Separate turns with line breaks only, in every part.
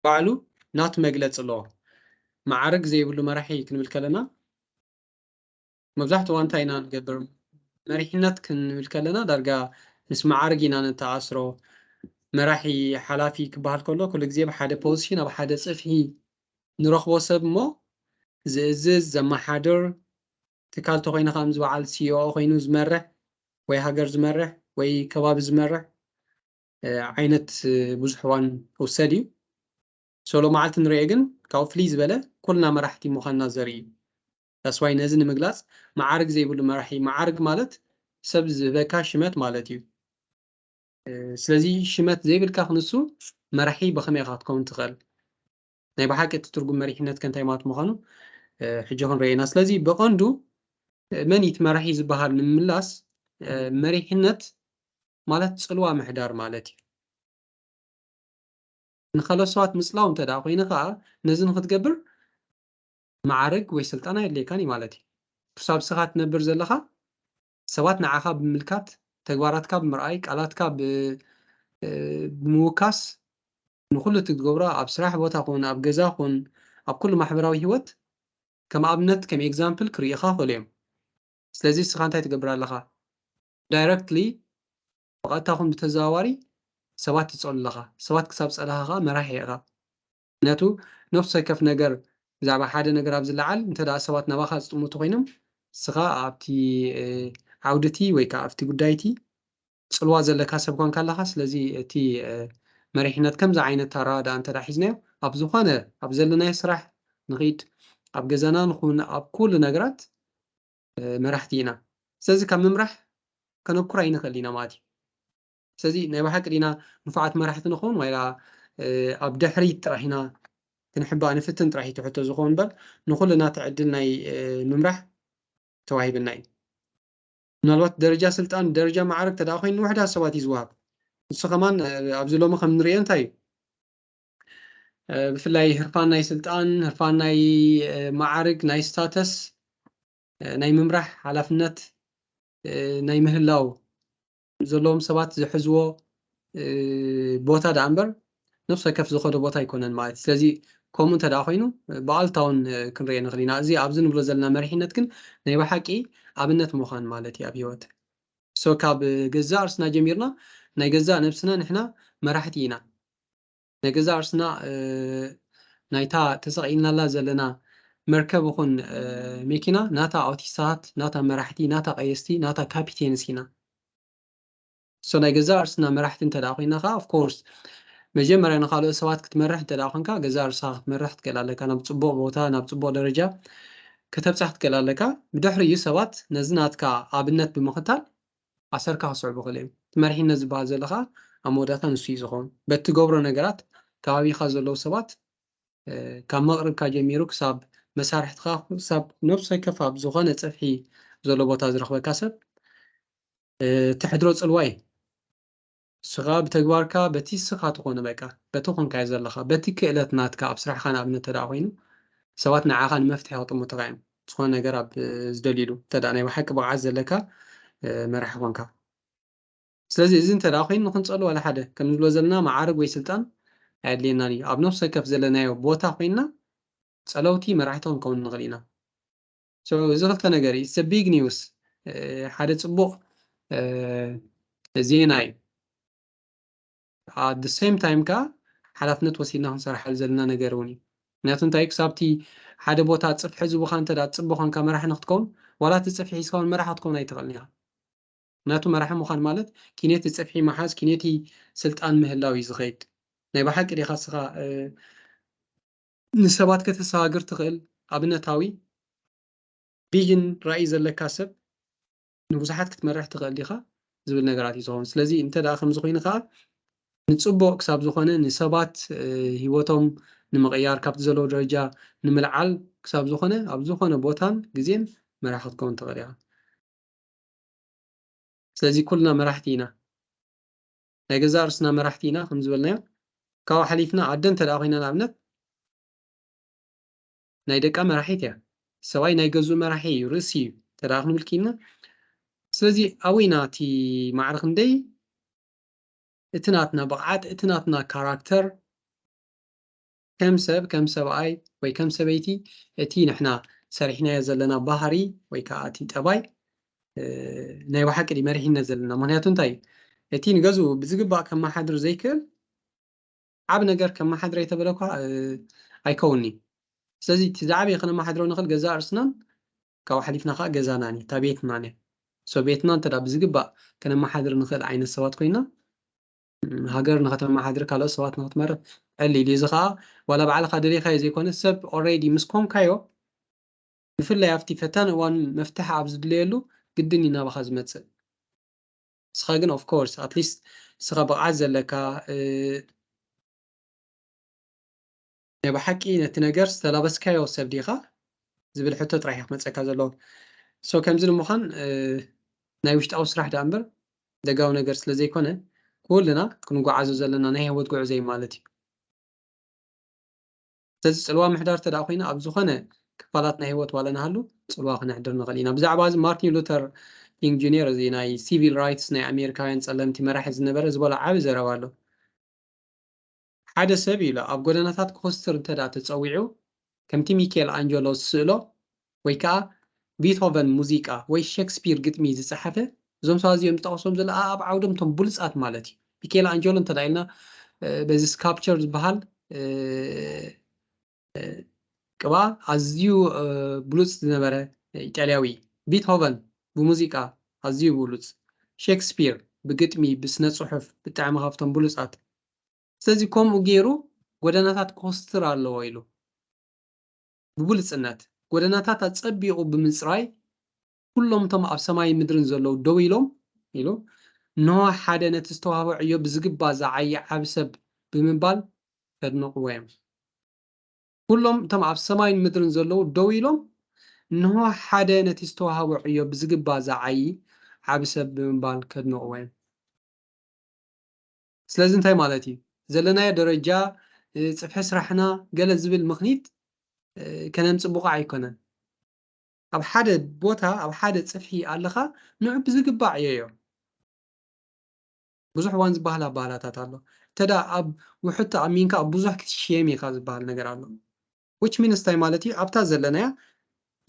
ባዕሉ ናት መግለጺ ኣለዎ። መዓርግ ዘይብሉ መራሒ ክንብል ከለና መብዛሕትኡ እዋን እንታይ ኢና ንገብር? መሪሕነት ክንብል ከለና ዳርጋ ምስ መዓርግ ኢና ነተኣስሮ። መራሒ፣ ሓላፊ ክበሃል ከሎ ኩሉ ግዜ ኣብ ሓደ ፖዚሽን ኣብ ሓደ ጽፍሒ ንረኽቦ ሰብ እሞ ዝእዝዝ፣ ዘመሓድር፣ ትካል ተኾይኑ ከኣ ምስ በዓል ሲኢኦ ኮይኑ ዝመርሕ ወይ ሃገር ዝመርሕ ወይ ከባቢ ዝመርሕ ዓይነት ብዙሕ እዋን ክውሰድ እዩ ሶሎ መዓልቲ ንሪኦ ግን ካብኡ ፍልይ ዝበለ ኩልና መራሕቲ ምዃንና ዘርኢ እዩ ዳስዋይ ነዚ ንምግላጽ መዓርግ ዘይብሉ መራሒ መዓርግ ማለት ሰብ ዝህበካ ሽመት ማለት እዩ ስለዚ ሽመት ዘይብልካ ክንሱ መራሒ ብኸመይ ኢኻ ክትከውን ትኽእል ናይ ብሓቂ እቲ ትርጉም መሪሕነት ከንታይ ማለት ምዃኑ ሕጂ ክንሪኦ ኢና ስለዚ ብቐንዱ መን እቲ መራሒ ዝበሃል ንምምላስ መሪሕነት ማለት ፅልዋ ምሕዳር ማለት እዩ ንካልኦት ሰባት ምፅላው እንተ ደኣ ኮይኑ ከዓ ነዚ ንክትገብር መዓርግ ወይ ስልጣን ኣየድልየካን እዩ ማለት እዩ ክሳብ ስኻ ትነብር ዘለኻ ሰባት ንዓኻ ብምምልካት፣ ተግባራትካ ብምርኣይ፣ ቃላትካ ብምውካስ ንኹሉ እቲ ትገብሮ ኣብ ስራሕ ቦታ ኹን ኣብ ገዛ ኹን ኣብ ኩሉ ማሕበራዊ ሂወት ከም ኣብነት ከም ኤግዛምፕል ክርእዩኻ ይኽእሉ እዮም። ስለዚ ንስኻ እንታይ ትገብር ኣለኻ? ዳይረክትሊ ብቐጥታ ኹን ብተዘዋዋሪ ሰባት ትጸሉ ኣለኻ። ሰባት ክሳብ ዝጸላኻ ኸኣ መራሒ ኢኻ። ምክንያቱ ነፍሲ ወከፍ ነገር ብዛዕባ ሓደ ነገር ኣብ ዝለዓል እንተ ሰባት ናባኻ ዝጥምቱ ኮይኖም ንስኻ ኣብቲ ዓውዲ እቲ ወይ ከዓ ኣብቲ ጉዳይ እቲ ፅልዋ ዘለካ ሰብ ኳንካ ኣለኻ ስለዚ እቲ መሪሕነት ከምዚ ዓይነት ኣረዳድኣ እንተ ሒዝናዮ ኣብ ዝኾነ ኣብ ዘለናዮ ስራሕ ንኺድ ኣብ ገዛና ንኹን ኣብ ኩሉ ነገራት መራሕቲ ኢና ስለዚ ካብ ምምራሕ ከነኩር ኣይንኽእል ኢና ማለት እዩ ስለዚ ናይ ብሓቂ ዲና ንፉዓት መራሕቲ ንኸውን ዋይላ ኣብ ድሕሪት ጥራሕ ኢና ክንሕባእ ንፍትን ጥራሕ እዩ እቲ ሕቶ ዝኸውን እምበር ንኹልና እቲ ዕድል ናይ ምምራሕ ተዋሂብና እዩ። ምናልባት ደረጃ ስልጣን ደረጃ ማዕርግ ተደኣ ኮይኑ ንውሕዳት ሰባት እዩ ዝወሃብ። ንሱ ከማን ኣብዚ ሎሚ ከም ንርእዮ እንታይ እዩ ብፍላይ ህርፋን ናይ ስልጣን ህርፋን ናይ ማዕርግ ናይ ስታተስ ናይ ምምራሕ ሓላፍነት ናይ ምህላው ዘለዎም ሰባት ዝሕዝዎ ቦታ ደኣ እምበር ነብሲ ወከፍ ዝኸዶ ቦታ ኣይኮነን ማለት ስለዚ ከምኡ እንተ ደኣ ኮይኑ ብኣሉታውን ክንሪኦ ንኽእል ኢና እዚ ኣብዚ ንብሎ ዘለና መሪሕነት ግን ናይ ብሓቂ ኣብነት ምዃን ማለት እዩ ኣብ ሂወት ሶ ካብ ገዛእ ርስና ጀሚርና ናይ ገዛእ ነብስና ንሕና መራሕቲ ኢና ናይ ገዛእ ርእስና ናይታ ተሰቒልናላ ዘለና መርከብ ይኹን መኪና ናታ ኣውቲስታታት፣ ናታ መራሕቲ፣ ናታ ቀየስቲ፣ ናታ ካፒቴንስ ኢና። ሶ ናይ ገዛእ ርእስና መራሕቲ እንተደኣ ኮይና ከኣ ኦፍ ኮርስ መጀመርያ ንኻልኦት ሰባት ክትመርሕ እንተደኣ ኮንካ ገዛእ ርእስኻ ክትመርሕ ክትክእል ኣለካ፣ ናብ ጽቡቕ ቦታ ናብ ጽቡቕ ደረጃ ከተብጽሕ ክትክእል ኣለካ። ብድሕሪኡ ሰባት ነዚ ናትካ ኣብነት ብምኽታል ኣሰርካ ክስዕቡ ክእለዮም። እቲ መሪሕነት ዝበሃል ዘሎ ከኣ ኣብ መወዳእታ ንሱ እዩ ዝኸውን። በቲ ትገብሮ ነገራት ከባቢኻ ዘለዉ ሰባት ካብ መቕርብካ ጀሚሩ ክሳብ መሳርሕትኻ ክሳብ ነብሲ ወከፍ ኣብ ዝኾነ ጽፍሒ ዘሎ ቦታ ዝረኽበካ ሰብ እተሕድሮ ጽልዋ እዩ። ንስኻ ብተግባርካ በቲ ንስኻ ትኾኖ በቃ በቲ ኮንካዮ ዘለኻ በቲ ክእለት ናትካ ኣብ ስራሕኻ ንኣብነት ተደኣ ኮይኑ ሰባት ንዓኻ ንመፍትሒ ክጥምቱኻ እዮም ዝኾነ ነገር ኣብ ዝደልዩሉ እንተደኣ ናይ ብሓቂ ብቕዓት ዘለካ መራሒ ኮንካ ስለዚ እዚ እንተደኣ ኮይኑ ንክንጸሉ ዋላ ሓደ ከም ንብሎ ዘለና መዓርግ ወይ ስልጣን ኣየድልየናን እዩ ኣብ ነፍሲ ወከፍ ዘለናዮ ቦታ ኮይንና ጸለውቲ መራሕቲ ክንከውን ንኽእል ኢና so እዚ ክልተ ነገር እዩ ኢትስ ቢግ ኒውስ ሓደ ፅቡቅ ዜና እዩ ኣብ ደ ሴም ታይም ከዓ ሓላፍነት ወሲድና ክንሰርሓሉ ዘለና ነገር እውን እዩ ምክንያቱ እንታይ ክሳብቲ ሓደ ቦታ ፅፍሒ ዝቡካ እንተ ፅቡ ኮንካ መራሒ ንክትከውን ዋላ እቲ ፅፍሒ ሒዝካ እውን መራሒ ክትከውን ኣይትኽእልን ኢኻ ምክንያቱ መራሒ ምዃን ማለት ኪነቲ ፅፍሒ መሓዝ ኪነቲ ስልጣን ምህላው እዩ ዝኸይድ ናይ ብሓቂ ዲኻ ስኻ ንሰባት ከተሰጋግር ትኽእል ኣብነታዊ ቪዥን ራኢ ዘለካ ሰብ ንብዙሓት ክትመርሕ ትኽእል ዲኻ ዝብል ነገራት እዩ ዝኸውን ስለዚ እንተ ደኣ ከምዚ ኮይኑ ከዓ ንፅቡቅ ክሳብ ዝኾነ ንሰባት ሂወቶም ንምቕያር ካብቲ ዘለዎ ደረጃ ንምልዓል ክሳብ ዝኾነ ኣብ ዝኾነ ቦታን ግዜን መራሒ ክትከውን ትኽእል ኢኻ ስለዚ ኩልና መራሕቲ ኢና ናይ ገዛእ ርእስና መራሕቲ ኢና ከም ዝበልናዮ ካብኡ ሓሊፍና ኣደ እንተ ደኣ ኮይና ንኣብነት ናይ ደቃ መራሒት እያ ሰብኣይ ናይ ገዝኡ መራሒ እዩ ርእሲ እዩ እንተ ደኣ ክንብል ኪኢልና ስለዚ ኣበይ ኢና እቲ ማዕረ ክንደይ እቲ ናትና ብቕዓት እቲ ናትና ካራክተር ከም ሰብ ከም ሰብኣይ ወይ ከም ሰበይቲ እቲ ንሕና ሰሪሕናዮ ዘለና ባህሪ ወይ ከዓ እቲ ጠባይ ናይ ብሓቂ ድዩ መሪሕነት ዘለና ምክንያቱ እንታይ እዩ እቲ ንገዝኡ ብዝግባእ ከመሓድር ዘይክእል ዓብ ነገር ከመሓድረ የተበለ እኳ ኣይከውን እዩ ስለዚ እቲ ዝዓበየ ከነመሓድሮ ንኽእል ገዛ እርስናን ካብኡ ሓሊፍና ከዓ ገዛናን እዩ እታ ቤትናን እያ ሶ ቤትና እንተ ብዝግባእ ከነመሓድር ንኽእል ዓይነት ሰባት ኮይና ሃገር ንኸተማሓድር ካልኦት ሰባት ንኽትመርሕ ዕል ኢሉ እዚ ኸኣ ዋላ ባዕልኻ ደሊኻዮ ዘይኮነስ ሰብ ኦሬዲ ምስ ኮንካዮ ብፍላይ ኣብቲ ፈታኒ እዋን መፍትሒ ኣብ ዝድለየሉ ግድን እዩ ናባኻ ዝመጽእ ንስኻ ግን ኦፍ ኮርስ ኣትሊስት ንስኻ ብቕዓት ዘለካ ናይ ብሓቂ ነቲ ነገር ዝተላበስካዮ ሰብ ዲኻ ዝብል ሕቶ ጥራሕ እዩ ክመፀካ ዘለዎ ሶ ከምዚ ንምዃን ናይ ውሽጣዊ ስራሕ ዳኣ እምበር ደጋዊ ነገር ስለ ዘይኮነ ኩልና ክንጓዓዞ ዘለና ናይ ህይወት ጉዕዞ እዩ ማለት እዩ ስለዚ ፅልዋ ምሕዳር ተደኣ ኮይና ኣብ ዝኾነ ክፋላት ናይ ህይወት ዋላ ንሃሉ ፅልዋ ክነሕድር ንኽእል ኢና ብዛዕባ እዚ ማርቲን ሉተር ኪንግ ጁኒየር እዚ ናይ ሲቪል ራይትስ ናይ ኣሜሪካውያን ፀለምቲ መራሒ ዝነበረ ዝበሎ ዓብ ዘረባ ኣሎ ሓደ ሰብ ኢሉ ኣብ ጎደናታት ክኹስትር እንተድኣ ተጸዊዑ፣ ከምቲ ሚኬል ኣንጀሎ ዝስእሎ ወይ ከኣ ቢቶቨን ሙዚቃ ወይ ሸክስፒር ግጥሚ ዝጸሓፈ፣ እዞም ሰባት እዚኦም ዝጠቐሶም ዘሎ ኣኣብ ዓውዶም እቶም ብሉጻት ማለት እዩ። ሚኬል ኣንጀሎ እንተድኣ ኢልና በዚ ስካፕቸር ዝበሃል ቅብኣ ኣዝዩ ብሉጽ ዝነበረ ኢጣልያዊ፣ ቢትሆቨን ብሙዚቃ ኣዝዩ ብሉጽ፣ ሼክስፒር ብግጥሚ ብስነ ጽሑፍ ብጣዕሚ ካብቶም ብሉጻት፣ ስለዚ ከምኡ ጌሩ ጎደናታት ኮስትር ኣለዎ ኢሉ ብብሉጽነት ጎደናታት ኣጸቢቑ ብምጽራይ ኩሎም እቶም ኣብ ሰማይን ምድርን ዘለዉ ደው ኢሎም ኢሉ፣ እንሆ ሓደ ነቲ ዝተዋህቦ ዕዮ ብዝግባ ዝዓዪ ዓቢ ሰብ ብምባል ከድንቕዎ እዮም። ኩሎም እቶም ኣብ ሰማይን ምድርን ዘለዉ ደው ኢሎም፣ እንሆ ሓደ ነቲ ዝተዋህቦ ዕዮ ብዝግባ ዝዓዪ ዓቢ ሰብ ብምባል ከድንቕዎ እዮም። ስለዚ እንታይ ማለት እዩ? ዘለናዮ ደረጃ ጽፍሒ ስራሕና ገለ ዝብል ምኽኒት ከነምጽእ ብቑዕ ኣይኮነን። ኣብ ሓደ ቦታ ኣብ ሓደ ጽፍሒ ኣለኻ ንዑ ብዝግባዕ ዕየዮ። ብዙሕ እዋን ዝበሃል ኣባህላታት ኣሎ። እንተ ኣብ ውሑድ ተኣሚንካ ኣብ ብዙሕ ክትሽየም ኢኻ ዝበሃል ነገር ኣሎ። which means እንታይ ማለት እዩ? ኣብታ ዘለናያ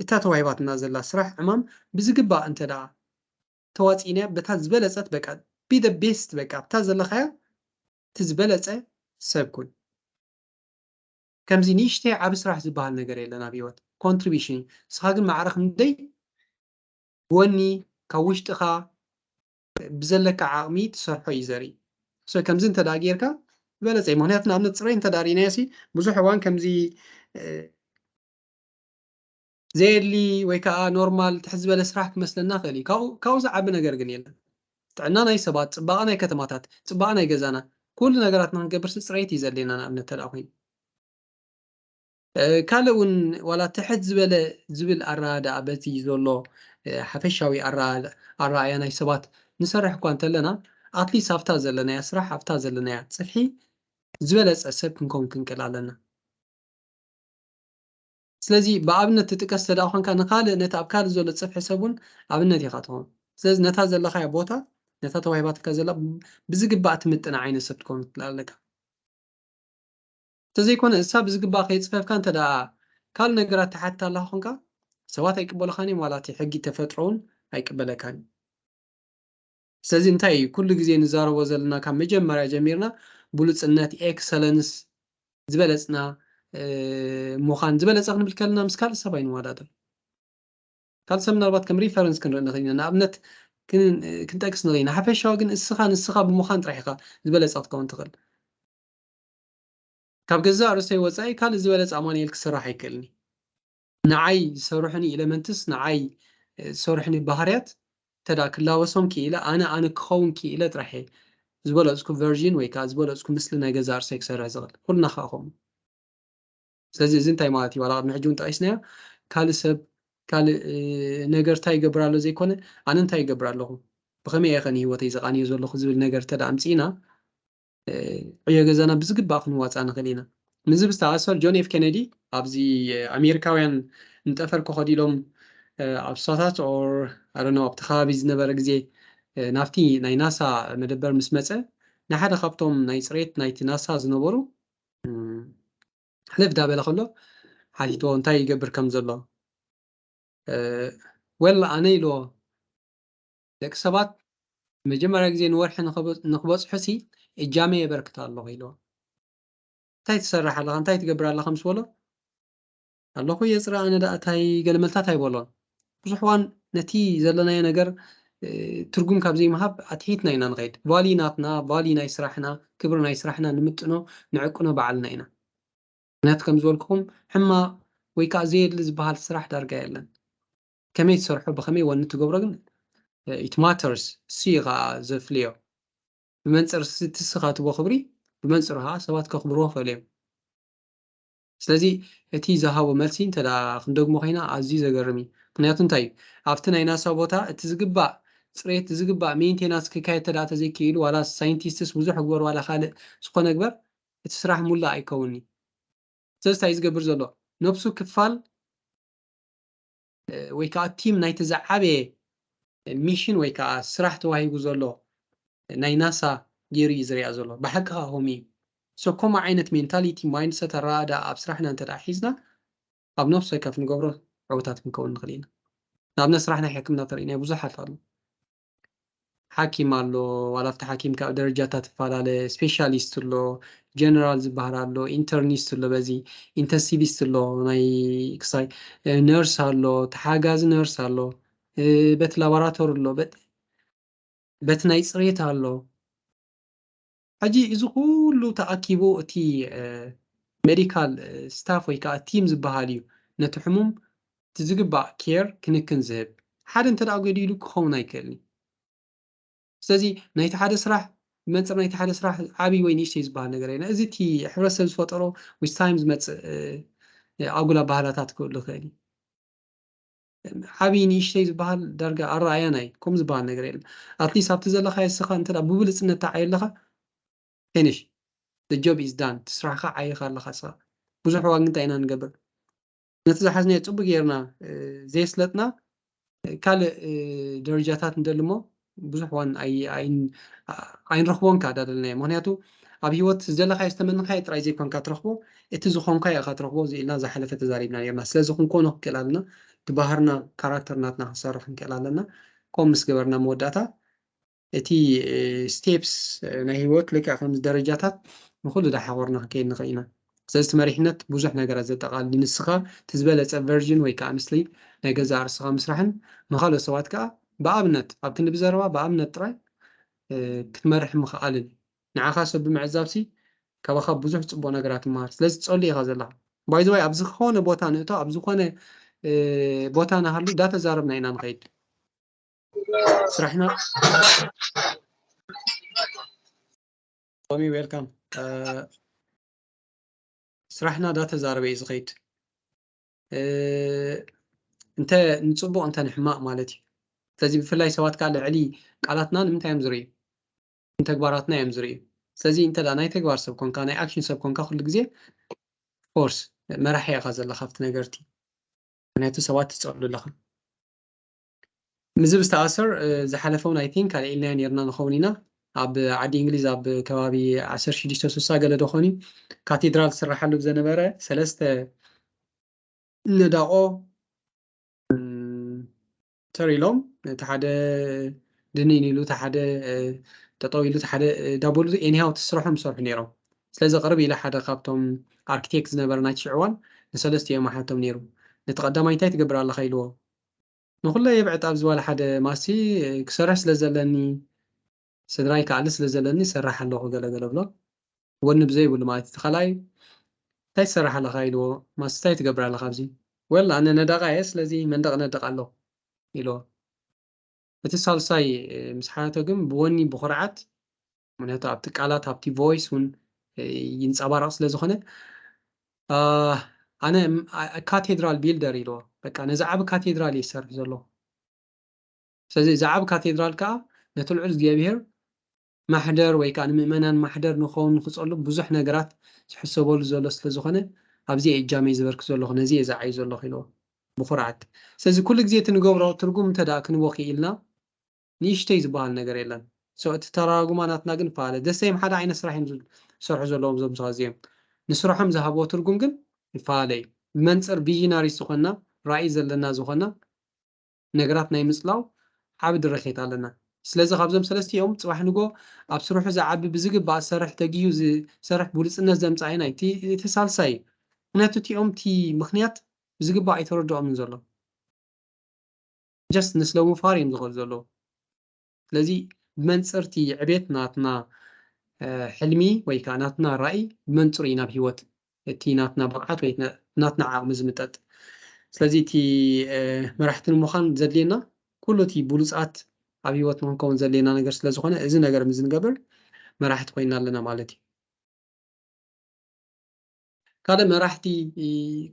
እታ ተዋሂባትና ዘላ ስራሕ ዕማም ብዝግባእ እንተ ተዋጺእናያ በታ ዝበለጸት በቃ ቢ ዘ ቤስት በቃ ኣብታ ዘለኻያ እቲ ዝበለጸ ሰብ ኩን። ከምዚ ንእሽተይ ዓቢ ስራሕ ዝብሃል ነገር የለን ኣብ ሂወት Contribution ንስኻ ግን ማዕረ ክንደይ ብወኒ ካብ ውሽጥኻ ብዘለካ ዓቕሚ ትሰርሖ እዩ ዘርኢ so ከምዚ እንተ ጌርካ ዝበለጸ እዩ ምክንያቱ ንኣብነት ጽሬ እንተ ርኢናዮሲ ብዙሕ እዋን ከምዚ ዘየድሊ ወይ ከዓ ኖርማል ትሕት ዝበለ ስራሕ ክመስለና ይኽእል እዩ። ካብኡ ካብኡ ዝዓቢ ነገር ግን የለን። ጥዕና ናይ ሰባት፣ ፅባቐ ናይ ከተማታት፣ ፅባቐ ናይ ገዛና፣ ኩሉ ነገራት ንክንገብርሲ ፅሬት እዩ ዘድልየና ንኣብነት ተድኣ ኮይኑ። ካልእ እውን ዋላ ትሕት ዝበለ ዝብል ኣረዳድኣ በቲ ዘሎ ሓፈሻዊ ኣረኣእያ ናይ ሰባት ንሰርሕ እኳ እንተለና ኣትሊስት ኣብታ ዘለናያ ስራሕ ኣብታ ዘለናያ ፅፍሒ ዝበለፀ ሰብ ክንከውን ክንክእል ኣለና። ስለዚ ብኣብነት ትጥቀስ እንተድኣ ኾንካ ንኻልእ ነቲ ኣብ ካልእ ዘሎ ጽፍሒ ሰብ እውን ኣብነት ኢኻ ትኸውን። ስለዚ ነታ ዘለኻያ ቦታ ነታ ተዋሂባትካ ዘላ ብዝግባእ ትምጥና ዓይነት ሰብ ትከውን ትልል ኣለካ። እንተዘይኮነ እሳ ብዝግባእ ከይጽፈፍካ እንተድኣ ካልእ ነገራት ትሓትት ኣለኻ ኾንካ ሰባት ኣይቅበሉኻን እዮም ዋላ እቲ ሕጊ ተፈጥሮ እውን ኣይቅበለካን እዩ። ስለዚ እንታይ እዩ ኩሉ ግዜ ንዛረቦ ዘለና ካብ መጀመርያ ጀሚርና ብሉጽነት፣ ኤክሰለንስ፣ ዝበለጽና ምዃን፣ ዝበለጸ ክንብል ከለና ምስ ካልእ ሰብ ኣይንወዳደር። ካልእ ሰብ ምናልባት ከም ሪፈረንስ ክንርኢ ንኽእል ኢና፣ ንኣብነት ክንጠቅስ ንኽእል ኢና። ሓፈሻዊ ግን እስኻ ንስኻ ብምዃን ጥራሕ ኢኻ ዝበለጸ ክትከውን ትኽእል። ካብ ገዛእ ርእሰይ ወጻኢ ካልእ ዝበለጸ ኣማኑኤል ክስራሕ ኣይክእልን እዩ። ንዓይ ዝሰርሑኒ ኢለመንትስ ንዓይ ዝሰርሑኒ ባህርያት እንተ ክላበሶም ክኢለ ኣነ ኣነ ክኸውን ክኢለ ጥራሕ እየ ዝበለጽኩ ቨርዢን ወይ ከኣ ዝበለጽኩ ምስሊ ናይ ገዛእ ርእሰይ ክሰርሕ ዝኽእል። ኩልና ከኣ ከምኡ። ስለዚ እዚ እንታይ ማለት እዩ ዋላ ቅድሚ ሕጂ እውን ጠቒስናዮ ካልእ ሰብ ካልእ ነገር እንታይ ይገብር ኣሎ ዘይኮነ ኣነ እንታይ ይገብር ኣለኹ ብኸመይ እየኸ ንህይወተይ ዘቓንዮ ዘለኹ ዝብል ነገር እንተ ኣምጺእና ዕዮ ገዛና ብዝግባእ ክንዋፃእ ንኽእል ኢና። ምስዚ ብዝተኣሳሰር ጆን ኤፍ ኬነዲ ኣብዚ ኣሜሪካውያን ንጠፈር ክኸዱ ኢሎም ኣብ ስሳታት ኦር ኣረነው ኣብቲ ከባቢ ዝነበረ ግዜ ናብቲ ናይ ናሳ መደበር ምስ መፀ ንሓደ ካብቶም ናይ ፅሬት ናይቲ ናሳ ዝነበሩ ሕልፍ ዳበለ ከሎ ሓቲትዎ እንታይ ይገብር ከም ዘሎ ወል ኣነ ኢልዎ ደቂ ሰባት ንመጀመርያ ግዜ ንወርሒ ንክበጽሑሲ እጃመይ የበርክት ኣለኹ ኢልዎ። እንታይ ትሰርሕ ኣለኻ እንታይ ትገብር ኣለኻ ምስ በሎ ኣለኹ የጽሪ ኣነ ደኣ እንታይ ገለ መልታት ኣይበሎን ብዙሕ እዋን ነቲ ዘለናዮ ነገር ትርጉም ካብ ዘይምሃብ ኣትሒትና ኢና ንኸይድ ቫሊ ናትና ቫሊ ናይ ስራሕና ክብሪ ናይ ስራሕና ንምጥኖ ንዕቅኖ በዓልና ኢና ምክንያቱ ከም ዝበልኩኹም ሕማቕ ወይ ከዓ ዘየድሊ ዝበሃል ስራሕ ዳርጋ የለን ከመይ ትሰርሖ ብከመይ ወን ትገብሮ ግን ኢት ማተርስ ሲ ከኣ ዘፍልዮ ብመንፅር ትስኻ ትቦ ክብሪ ብመንፅሩ ከዓ ሰባት ከኽብርዎ ክእል እዮም ስለዚ እቲ ዝሃቦ መልሲ እንተ ክንደግሞ ኮይና ኣዝዩ ዘገርም እዩ ምክንያቱ እንታይ እዩ ኣብቲ ናይ ናሳ ቦታ እቲ ዝግባእ ፅሬት ዝግባእ ሜንቴናንስ ክካየድ ተደኣ ተዘይክኢሉ ዋላ ሳይንቲስትስ ብዙሕ ግበር ዋላ ካልእ ዝኾነ ግበር እቲ ስራሕ ሙላእ ኣይከውንኒ ስለዚ እንታይ ዝገብር ዘሎ ነብሱ ክፋል ወይ ከኣ ቲም ናይቲ ዝዓበየ ሚሽን ወይ ከኣ ስራሕ ተዋሂቡ ዘሎ ናይ ናሳ ጌሩ እዩ ዝሪኣ ዘሎ ብሓቂ ከኣ ከምኡ እዩ so ከምኡ ዓይነት ሜንታሊቲ ማይንድሰት ኣረኣእዳኣ ኣብ ስራሕና እንተ ደኣ ሒዝና ኣብ ነፍሲ ወከፍ ንገብሮ ዕውታት ክንከውን ንኽእል ኢና ንኣብነት ስራሕ ናይ ሕክምና ተሪእናዮ ብዙሓት ኣሎ ሓኪም ኣሎ ዋላ ኣብቲ ሓኪም ካብ ደረጃታት ትፋላለ ስፔሻሊስት ኣሎ ጀነራል ዝበሃል ኣሎ ኢንተርኒስት ኣሎ በዚ ኢንተንሲቪስት ኣሎ ናይ ክሳይ ነርስ ኣሎ ተሓጋዚ ነርስ ኣሎ በቲ ላቦራቶሪ ኣሎ በቲ ናይ ፅሬት ኣሎ ሕጂ እዚ ኩሉ ተኣኪቡ እቲ ሜዲካል ስታፍ ወይ ከኣ ቲም ዝበሃል እዩ ነቲ ሕሙም እቲ ዝግባእ ኬር ክንክን ዝህብ። ሓደ እንተ ጎዲሉ ክኸውን ኣይክእልን እዩ። ስለዚ ናይቲ ሓደ ስራሕ ብመንጽር ናይቲ ሓደ ስራሕ ዓብይ ወይ ንእሽተይ ዝበሃል ነገር የለን። እዚ እቲ ሕብረተሰብ ዝፈጠሮ ምስ ታይም ዝመጽእ ኣጉል ኣባህላታት ክህሉ ይኽእል እዩ። ዓብይ ንእሽተይ ዝበሃል ዳርጋ ኣረኣእያን ኣዩ ከምኡ ዝበሃል ነገር የለን ኣትሊስት ኣብቲ ዘለኻዮ እስኻ እንተ ብብልጽነት ተዓዩ ኣለኻ ፊኒሽ the job is done እቲ ስራሕኻ ዓይኻ ኣለኻ እስኻ ብዙሕ እዋን ግን እንታይ ኢና ንገብር ነቲ ዝሓዝናዮ ጽቡቅ ጌርና ዘየስለጥና ካልእ ደረጃታት ንደሊ እሞ ብዙሕ ዋን ኣይንረኽቦን ከኣ ዳደለናዮ ምክንያቱ ኣብ ሂወት ዝደለካዮ ዝተመነካዮ ጥራይ ዘይኮንካ ትረክቦ እቲ ዝኮንካዮ ኢካ ትረክቦ ኢልና ዝሓለፈ ተዛሪብና ኔርና ስለዚ ክንኮኖ ክንክእል ኣለና እቲ ባህርና ካራክተር ናትና ክንሰርሕ ክንክእል ኣለና ከምኡ ምስ ገበርና መወዳእታ እቲ ስቴፕስ ናይ ሂወት ልክዕ ከምዚ ደረጃታት ንኩሉ ዳሓቆርና ክንከይድ ንክእል ኢና ሰለዚ እቲ መሪሕነት ብዙሕ ነገራት ዘጠቓልል እዩ፣ ንስኻ እቲ ዝበለጸ ቨርዥን ወይ ከኣ ምስሊ ናይ ገዛእ ርእስኻ ምስራሕን ንኻልኦት ሰባት ከኣ ብኣብነት ኣብ ክንዲ ብዘረባ ብኣብነት ጥራይ ክትመርሕ ምኽኣልን እዩ። ንዓኻ ሰብ ብምዕዛብሲ ካባኻ ብዙሕ ጽቡቕ ነገራት ይመሃር፣ ስለዚ ትጸሉ ኢኻ ዘለኻ። ባይ ዘ ወይ ኣብ ዝኸነ ቦታ ንእቶ ኣብ ዝኾነ ቦታ ንሃሉ ዳተዛረብና ኢና ንኸይድ ስራሕና ቶሚ ዌልካም ስራሕና ዳተዛረበ እዩ ዝኸይድ እንተ ንፅቡቅ እንተ ንሕማቅ ማለት እዩ ስለዚ ብፍላይ ሰባት ከዓ ልዕሊ ቃላትና ንምንታይ እዮም ዝርእዩ ንተግባራትና እዮም ዝርእዩ ስለዚ እንተ ናይ ተግባር ሰብ ኮንካ ናይ ኣክሽን ሰብ ኮንካ ኩሉ ግዜ ፎርስ መራሒ ኢኻ ዘለካ ኣብቲ ነገርቲ ምክንያቱ ሰባት ትፀሉ ኣለኻ ምስዚ ብዝተኣሰር ዝሓለፈ እውን ኣይ ቲንክ ኣልዒልናዮ ነይርና ንኸውን ኢና ኣብ ዓዲ እንግሊዝ ኣብ ከባቢ ዓሰርተ ሽዱሽተ ስሳ ገለ ዶ ኾን እዩ ካቴድራል ዝስራሓሉ ብዘነበረ ሰለስተ ነዳቆ ተር ኢሎም እቲ ሓደ ድንን ኢሉ እቲ ሓደ ጠጠው ኢሉ እቲ ሓደ ዳቦሉ ኤኒሃው እቲ ስራሖም ዝሰርሑ ነይሮም ስለዚ ቅርብ ኢለ ሓደ ካብቶም ኣርኪቴክት ዝነበረ ናይቲ ሽዕዋን ንሰለስቲኦም ኣሓቶም ነይሩ ነቲ ቀዳማይ እንታይ ትገብር ኣለኻ ኢልዎ ንኹለ የብዕጥ ኣብዚ ዋላ ሓደ ማስቲ ክሰርሕ ስለ ዘለኒ ስድራይ ክኣሊ ስለ ዘለኒ ይሰርሕ ኣለኹ ገለ ገለ እብሎ ወኒ ብዘይ ብሉ ማለት እዩ እቲ ካልኣይ እንታይ ትሰርሕ ኣለኻ ኢልዎ ማስቲ እንታይ ትገብር ኣለኻ ኣብዚ well ኣነ ነዳቓ እየ ስለዚ መንደቕ እነድቕ ኣለኹ ኢልዎ። እቲ ሳልሳይ ምስ ሓተቶ ግን ብወኒ ብኹርዓት ምክንያቱ ኣብቲ ቃላት ኣብቲ ቮይስ እውን ይንፀባረቕ ስለ ዝኾነ ኣነ ካቴድራል ቢልደር ኢልዎ በቃ ነዚ ዓብ ካቴድራል እየ ዝሰርሕ ዘሎ ስለዚ እዚ ዓብ ካቴድራል ከዓ ነቲ ልዑል እግዚኣብሄር ማሕደር ወይ ከኣ ንምእመናን ማሕደር ንክኸውን ንክጸሉ ብዙሕ ነገራት ዝሕሰበሉ ዘሎ ስለ ዝኾነ ኣብዚ እየ እጃመይ ዘበርክት ዘለኹ ነዚ እየ ዝዓዩ ዘለኹ ኢልዎ ብኹርዓት ስለዚ ኩሉ ግዜ እቲ ንገብሮ ትርጉም እንተ ደኣ ክንቦ ክኢልና ንእሽተይ ዝበሃል ነገር የለን so እቲ ተራራጉማ ናትና ግን ይፈኣለ the same ሓደ ዓይነት ስራሕ እዮም ዝሰርሑ ዘለዎም እዞም ሰባት እዚኦም ንስርሖም ዝሃብዎ ትርጉም ግን ይፈኣለ እዩ ብመንጽር ቪዥናሪስ ዝኾንና ራኢ ዘለና ዝኾንና ነገራት ናይ ምጽላው ዓቢ ድርኺት ኣለና። ስለዚ ካብዞም ሰለስቲኦም ጽባሕ ንግሆ ኣብ ስርሑ ዝዓቢ ብዝግባእ ዝሰርሕ ተጊሁ ዝሰርሕ ብሉጽነት ዘምጽኣ ኢዩ ናይ እቲ ሳልሳይ ኢዩ። ምክንያቱ እቲኦም እቲ ምክንያት ብዝግባእ ኣይተረድኦምን ዘሎ። just ንስለምፋር ኢዮም ዝኸዱ ዘለዉ። ስለዚ ብመንጽር'ቲ ዕቤት ናትና ሕልሚ ወይ ከኣ ናትና ራኢ ብመንጽሩ እዩ ናብ ህይወት እቲ ናትና ብቕዓት ወይ ናትና ዓቕሚ ዝምጠጥ። ስለዚ እቲ መራሕቲ ንምዃን ዘድልየና ኩሉ እቲ ብሉጻት ኣብ ህይወት ንኽንከውን ዘድልየና ነገር ስለ ዝኾነ እዚ ነገር ምስ ንገብር መራሕቲ ኮይንና ኣለና ማለት እዩ። ካልእ መራሕቲ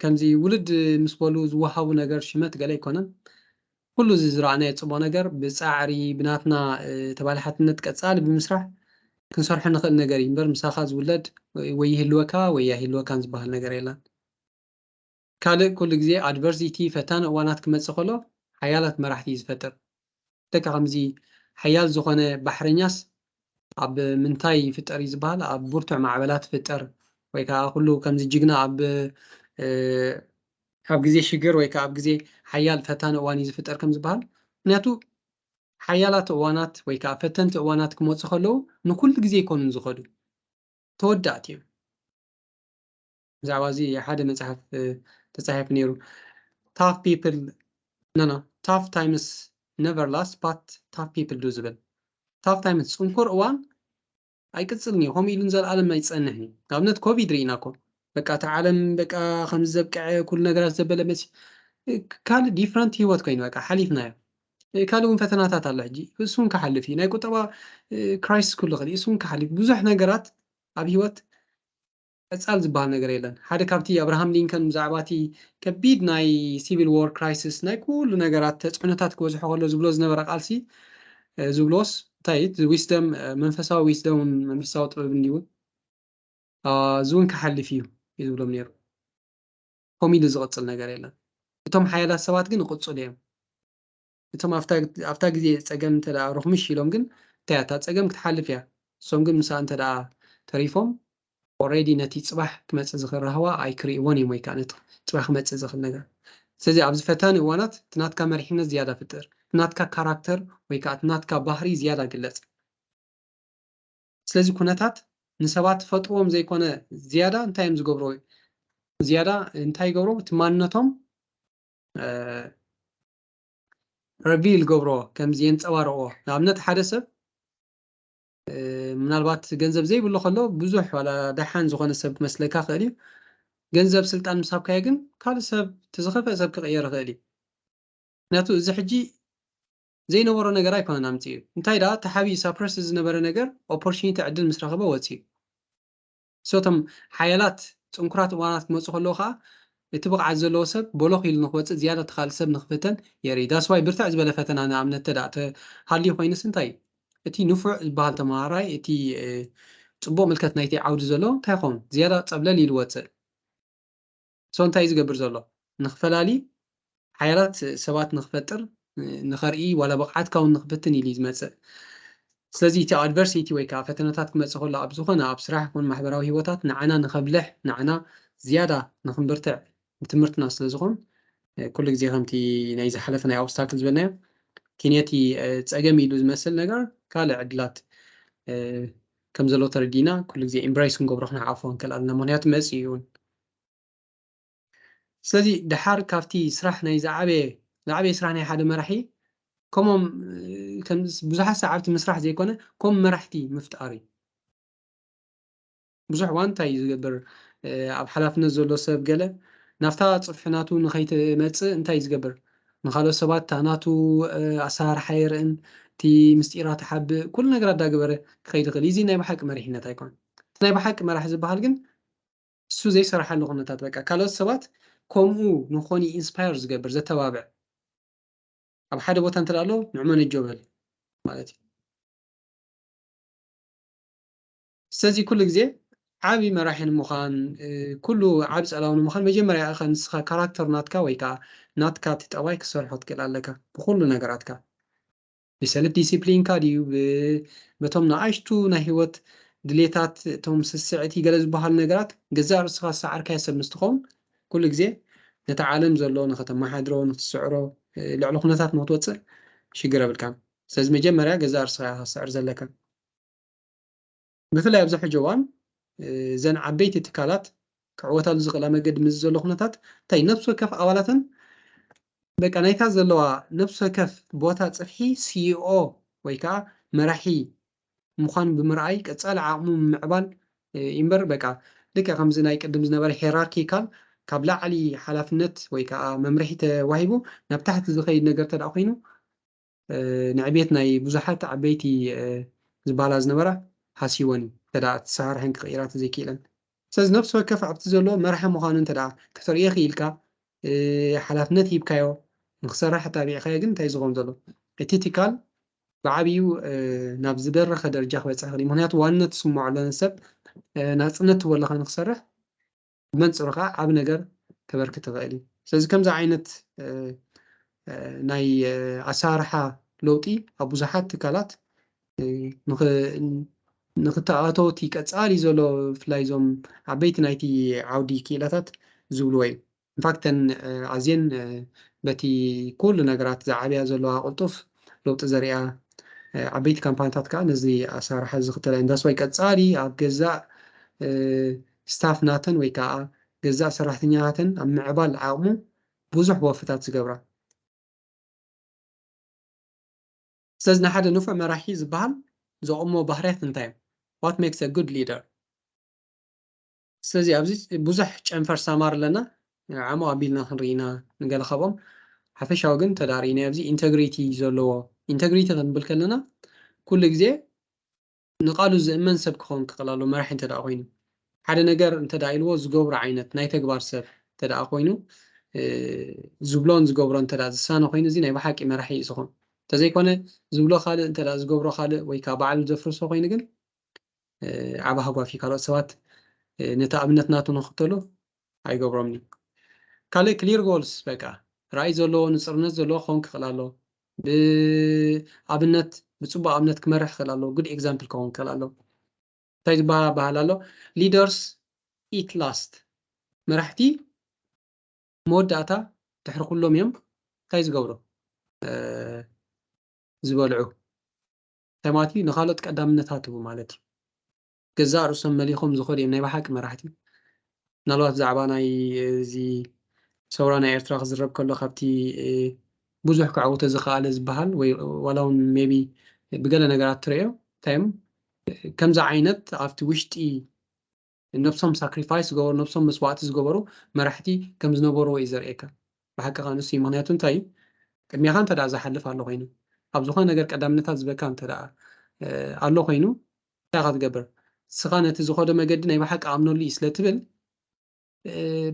ከምዚ ውልድ ምስ በሉ ዝወሃቡ ነገር ሽመት ገለ ኣይኮነን። ኩሉ እዚ ዝረኣናዮ ጽቡቕ ነገር ብጻዕሪ ብናትና ተባላሓትነት ቀጻሊ ብምስራሕ ክንሰርሖ ንኽእል ነገር እዩ እምበር ምሳኻ ዝውለድ ወይ ይህልወካ ወይ ኣይህልወካን ዝበሃል ነገር የለን። ካልእ ኩሉ ግዜ ኣድቨርሲቲ፣ ፈታኒ እዋናት፣ ክመጽእ ከሎ ሓያላት መራሕቲ እዩ ዝፈጥር። ልክዕ ከምዚ ሓያል ዝኾነ ባሕረኛስ ኣብ ምንታይ ይፍጠር እዩ ዝበሃል ኣብ ብርቱዕ ማዕበላት ይፍጠር ወይ ከኣ ኩሉ ከምዚ ጅግና ኣብ ኣብ ግዜ ሽግር ወይ ከኣ ኣብ ግዜ ሓያል ፈታኒ እዋን እዩ ዝፍጠር ከም ዝበሃል ምክንያቱ ሓያላት እዋናት ወይ ከኣ ፈተንቲ እዋናት ክመፁ ከለዉ ንኩሉ ግዜ ኣይኮኑን ዝኸዱ ተወዳእቲ እዮም። ብዛዕባ እዚ ሓደ መጽሓፍ ተጻሒፉ ነይሩ ታፍ ፒፕል ኖኖ ታፍ ታይምስ ነቨር ላስት ባት ታፍ ፒፕል ዱ ዝብል ታፍ ታይምስ ጽንኩር እዋን ኣይቅጽልን እዩ ከምኡ ኢሉ ንዘለኣለም ኣይጸንሕን እዩ ንኣብነት ኮቪድ ርኢና እኮ በቃ እቲ ዓለም በቃ ከምዚ ዘብቅዐ ኩሉ ነገራት ዘበለ መሲ ካልእ ዲፍረንት ህይወት ኮይኑ በቃ ሓሊፍናዮ ካልእ እውን ፈተናታት ኣሎ ሕጂ እሱ እውን ክሓልፍ እዩ ናይ ቁጠባ ክራይስስ ክህሉ ይኽእል እዩ እሱ እውን ክሓልፍ ብዙሕ ነገራት ኣብ ህይወት ቀጻል ዝበሃል ነገር የለን። ሓደ ካብቲ ኣብርሃም ሊንከን ብዛዕባ እቲ ከቢድ ናይ ሲቪል ዎር ክራይሲስ ናይ ኩሉ ነገራት ተጽዕኖታት ክበዝሖ ከሎ ዝብሎ ዝነበረ ቃልሲ ዝብሎስ እንታይ እዩ እቲ ዊስደም መንፈሳዊ ዊስደምን መንፈሳዊ ጥበብን ድዩ እዚ እውን ክሓልፍ እዩ እዩ ዝብሎም ነይሩ። ከምኡ ኢሉ ዝቕጽል ነገር የለን። እቶም ሓያላት ሰባት ግን ይቕጽሉ እዮም። እቶም ኣብታ ግዜ ጸገም እንተ ሩኽምሽ ኢሎም ግን እንታይ እያ እታ ጸገም ክትሓልፍ እያ እሶም ግን ምሳኣ እንተ ተሪፎም ኦሬዲ ነቲ ጽባሕ ክመጽእ ዝኽእል ራህዋ ኣይክርእይዎን እዮም ወይ ከኣ ነቲ ጽባሕ ክመጽእ ዝኽእል ነገር ስለዚ ኣብዚ ፈታኒ እዋናት እቲ ናትካ መሪሕነት ዝያዳ ፍጥር እቲ ናትካ ካራክተር ወይ ከኣ እቲ ናትካ ባህሪ ዝያዳ ግለጽ ስለዚ ኩነታት ንሰባት ፈጥርዎም ዘይኮነ ዝያዳ እንታይ እዮም ዝገብርዎ ዝያዳ እንታይ ይገብርዎ እቲ ማንነቶም ረቪል ገብሮ ከምዚ የንጸባርቕዎ ንኣብነት ሓደ ሰብ ምናልባት ገንዘብ ዘይብሉ ከሎ ብዙሕ ዋላ ደሓን ዝኾነ ሰብ ክመስለካ ክእል እዩ ገንዘብ ስልጣን ምስ ሃብካዮ ግን ካልእ ሰብ እቲ ዝኸፍአ ሰብ ክቕየር ይኽእል እዩ ምክንያቱ እዚ ሕጂ ዘይነበሮ ነገር ኣይኮነን ኣምጽኡ እንታይ ደኣ ተሓቢኡ ሳፕረስ ዝነበረ ነገር ኦፖርቹኒቲ ዕድል ምስ ረኸበ ወጽኡ እቶም ሓያላት ጽንኩራት እዋናት ክመጹ ከለዉ ከኣ እቲ ብቕዓት ዘለዎ ሰብ ቦሎኽ ኢሉ ንኽወጽእ ዝያዳ እቲ ካልእ ሰብ ንኽፍተን የርኢ that's why ብርትዕ ዝበለ ፈተና ንኣብነት ተደኣ ተሃልዩ ኮይኑስ እንታይ እቲ ንፉዕ ዝበሃል ተመሃራይ እቲ ጽቡቕ ምልከት ናይቲ ዓውዲ ዘለዎ እንታይ ይኸውን ዝያዳ ጸብለል ኢሉ ወጽእ ሶ እንታይ እዩ ዝገብር ዘሎ ንክፈላሊ ሓያላት ሰባት ንክፈጥር ንኸርኢ ዋላ ብቕዓትካ እውን ንክፍትን ኢሉ እዩ ዝመፅእ ስለዚ እቲ ኣድቨርሲቲ ወይ ከዓ ፈተነታት ክመፅእ ከሎ ኣብ ዝኾነ ኣብ ስራሕ ይኹን ማሕበራዊ ሂወታት ንዓና ንከብልሕ ንዓና ዝያዳ ንክንብርትዕ ትምህርትና ስለ ዝኾን ኩሉ ግዜ ከምቲ ናይ ዝሓለፈ ናይ ኦብስታክል ዝበልናዮ እቲ ነቲ ፀገም ኢሉ ዝመስል ነገር ካልእ ዕድላት ከም ዘሎ ተረዲና ኩሉ ግዜ ኢምብራይስ ክንገብሮ ክንሓቆፎ ንክእል ኣለና ምክንያቱ መፅእ እዩን ስለዚ ደሓር ካብቲ ስራሕ ናይ ዝዓበየ ዝዓበየ ስራሕ ናይ ሓደ መራሒ ከምኦም ከም ብዙሓት ሰዓብቲ ምስራሕ ዘይኮነ ከም መራሕቲ ምፍጣር እዩ ብዙሕ እዋን እንታይ እዩ ዝገብር ኣብ ሓላፍነት ዘሎ ሰብ ገለ ናብታ ጽፍሒ ናቱ ንኸይትመጽእ እንታይ እዩ ዝገብር ንካልኦት ሰባት እታ ናቱ ኣሰራርሓ የርእን እቲ ምስጢራት ሓብእ ኩሉ ነገር ኣዳገበረ ክኸይድ ይኽእል እዚ ናይ ብሓቂ መሪሕነት ኣይኮነን እቲ ናይ ብሓቂ መራሒ ዝበሃል ግን እሱ ዘይሰራሓሉ ኩነታት በቃ ካልኦት ሰባት ኮምኡ ንኮኑ ኢንስፓየር ዝገብር ዘተባብዕ ኣብ ሓደ ቦታ እንተ ኣሎ ንዕመ ነጆ በል ማለት እዩ ስለዚ ኩሉ ግዜ ዓብ መራሒ ንምዃን ኩሉ ዓብ ጸላዊ ንምዃን መጀመርያ ኢኻ ንስኻ ካራክተር ናትካ ወይ ከዓ ናትካ እቲ ጠባይ ክሰርሖ ትክእል ኣለካ ብኩሉ ነገራትካ ብሰልፍ ዲሲፕሊንካ ድዩ በቶም ንኣሽቱ ናይ ህይወት ድሌታት እቶም ስስዕቲ ገለ ዝበሃሉ ነገራት ገዛእ ርእስኻ ዝሰዓርካዮ ሰብ ምስ ትኸውን ኩሉ ግዜ ነቲ ዓለም ዘሎ ንኸተመሓድሮ ንኽትስዕሮ ልዕሊ ኩነታት ንኽትወጽእ ሽግር የብልካን ስለዚ መጀመርያ ገዛእ ርእስኻ ኢኻ ክትስዕር ዘለካ። ብፍላይ ኣብዚ ሕጂ እዋን እዘን ዓበይቲ ትካላት ክዕወታሉ ዝኽእላ መገዲ ምስዚ ዘሎ ኩነታት እንታይ ነብሲ ወከፍ ኣባላተን በቃ ናይታ ዘለዋ ነብሲ ወከፍ ቦታ ጽፍሒ ሲኢኦ ወይ ከዓ መራሒ ምዃን ብምርኣይ ቀጻሊ ዓቕሙ ምምዕባል እምበር በቃ ልክዕ ከምዚ ናይ ቅድም ዝነበረ ሄራርኪካል ካብ ላዕሊ ሓላፍነት ወይ ከዓ መምርሒ ተዋሂቡ ናብ ታሕቲ ዝኸይድ ነገር እንተደኣ ኮይኑ ንዕቤት ናይ ብዙሓት ዓበይቲ ዝበሃላ ዝነበራ ሃስይወን እዩ እንተደኣ እቲ ሰራሕን ክቕይራ ተዘይኪኢለን። ስለዚ ነፍሲ ወከፍ ኣብቲ ዘለዎ መራሒ ምዃኑ እንተደኣ ከተርእዮ ክኢልካ ሓላፍነት ሂብካዮ ንክሰራሕ ኣተባቢዕካዮ ግን እንታይ እዩ ዝኸውን ዘሎ እቲ ትካል ብዓብዩ ናብ ዝደረኸ ደረጃ ክበጽሕ ይኽእል እዩ። ምኽንያቱ ዋንነት ዝስመዖ ለነ ሰብ ናጽነት ትህቦ ኣለኻ ንክሰርሕ ብመንፅሩ ከዓ ዓብ ነገር ከበርክት ይኽእል እዩ። ስለዚ ከምዚ ዓይነት ናይ ኣሰራርሓ ለውጢ ኣብ ብዙሓት ትካላት ንክተኣተው እቲ ቀፃሊ ዘሎ ብፍላይ እዞም ዓበይቲ ናይቲ ዓውዲ ክኢላታት ዝብልዎ እዩ። ኢንፋክት ተን ኣዝየን በቲ ኩሉ ነገራት ዝዓብያ ዘለዋ ቅልጡፍ ለውጢ ዘርእያ ዓበይቲ ካምፓኒታት ከዓ ነዚ ኣሰራርሓ እዚ ዝኽተላ እየን። ዳስዋይ ቀፃሊ ኣብ ገዛእ ስታፍ ናተን ወይ ከኣ ገዛእ ሰራሕተኛታተን ኣብ ምዕባል ዓቕሙ ብዙሕ ወፍታት ዝገብራ። ስለዚ ንሓደ ንፉዕ መራሒ ዝበሃል ዘቑሞ ባህርያት እንታይ እዮም? What makes a good leader? ስለዚ ኣብዚ ብዙሕ ጨንፈር ሳማር ኣለና፣ ዓሙቕ ኣቢልና ክንርኢ ኢና ንገለ ካብኦም፣ ሓፈሻዊ ግን እንተድኣ ርኢናዮ ኣብዚ ኢንተግሪቲ ዘለዎ፣ ኢንተግሪቲ ክንብል ከለና ኩሉ ግዜ ንቃሉ ዝእመን ሰብ ክኸውን ክኽእል ኣለዎ መራሒ እንተድኣ ኮይኑ ሓደ ነገር እንተድኣ ኢልዎ ዝገብሮ ዓይነት ናይ ተግባር ሰብ እንተድኣ ኮይኑ ዝብሎን ዝገብሮ እንተድኣ ዝሳነ ኮይኑ እዚ ናይ ብሓቂ መራሒ እዩ ዝኾን እንተዘይኮነ ዝብሎ ካልእ እንተድኣ ዝገብሮ ካልእ ወይ ከዓ ባዕሉ ዘፍርሶ ኮይኑ ግን ዓብ ሃጓፍ እዩ ካልኦት ሰባት ነቲ ኣብነት ናቱ ንኽተሉ ኣይገብሮምን እዩ ካልእ ክሊር ጎልስ በቃ ራእይ ዘለዎ ንጽርነት ዘለዎ ክኸውን ክኽእል ኣለዎ ብኣብነት ብጽቡቅ ኣብነት ክመርሕ ክኽእል ኣለዎ ጉድ ኤግዛምፕል ክኸውን ክኽእል ኣለዎ እንታይ ዝበሃል ኣበሃል ኣሎ ሊደርስ ኢት ላስት መራሕቲ መወዳእታ ድሕሪ ኩሎም እዮም እንታይ ዝገብሩ ዝበልዑ ተማቲ ንኻልኦት ቀዳምነት ሃትቡ ማለት እዩ ገዛእ ርእሶም መሊኾም ዝኸዱ እዮም ናይ ብሓቂ መራሕቲ። ምናልባት ብዛዕባ ናይ እዚ ሰውራ ናይ ኤርትራ ክዝረብ ከሎ ካብቲ ብዙሕ ከዕውቶ ዝኸኣለ ዝበሃል ወይ ዋላ እውን ሜቢ ብገለ ነገራት ትርእዮ እንታይ እዮም ከምዚ ዓይነት ኣብቲ ውሽጢ ነብሶም ሳክሪፋይስ ዝገበሩ ነብሶም መስዋእቲ ዝገበሩ መራሕቲ ከም ዝነበሩ እዩ ዘርእየካ ብሓቂ ከዓ ንሱ ምክንያቱ እንታይ እዩ ቅድሚኻ እንተ ዝሓልፍ ኣሎ ኮይኑ ኣብ ዝኾነ ነገር ቀዳምነታት ዝበካ እንተ ኣሎ ኮይኑ እንታይ ኢኻ ትገብር ንስኻ ነቲ ዝኸዶ መገዲ ናይ ብሓቂ ኣምነሉ እዩ ስለ ትብል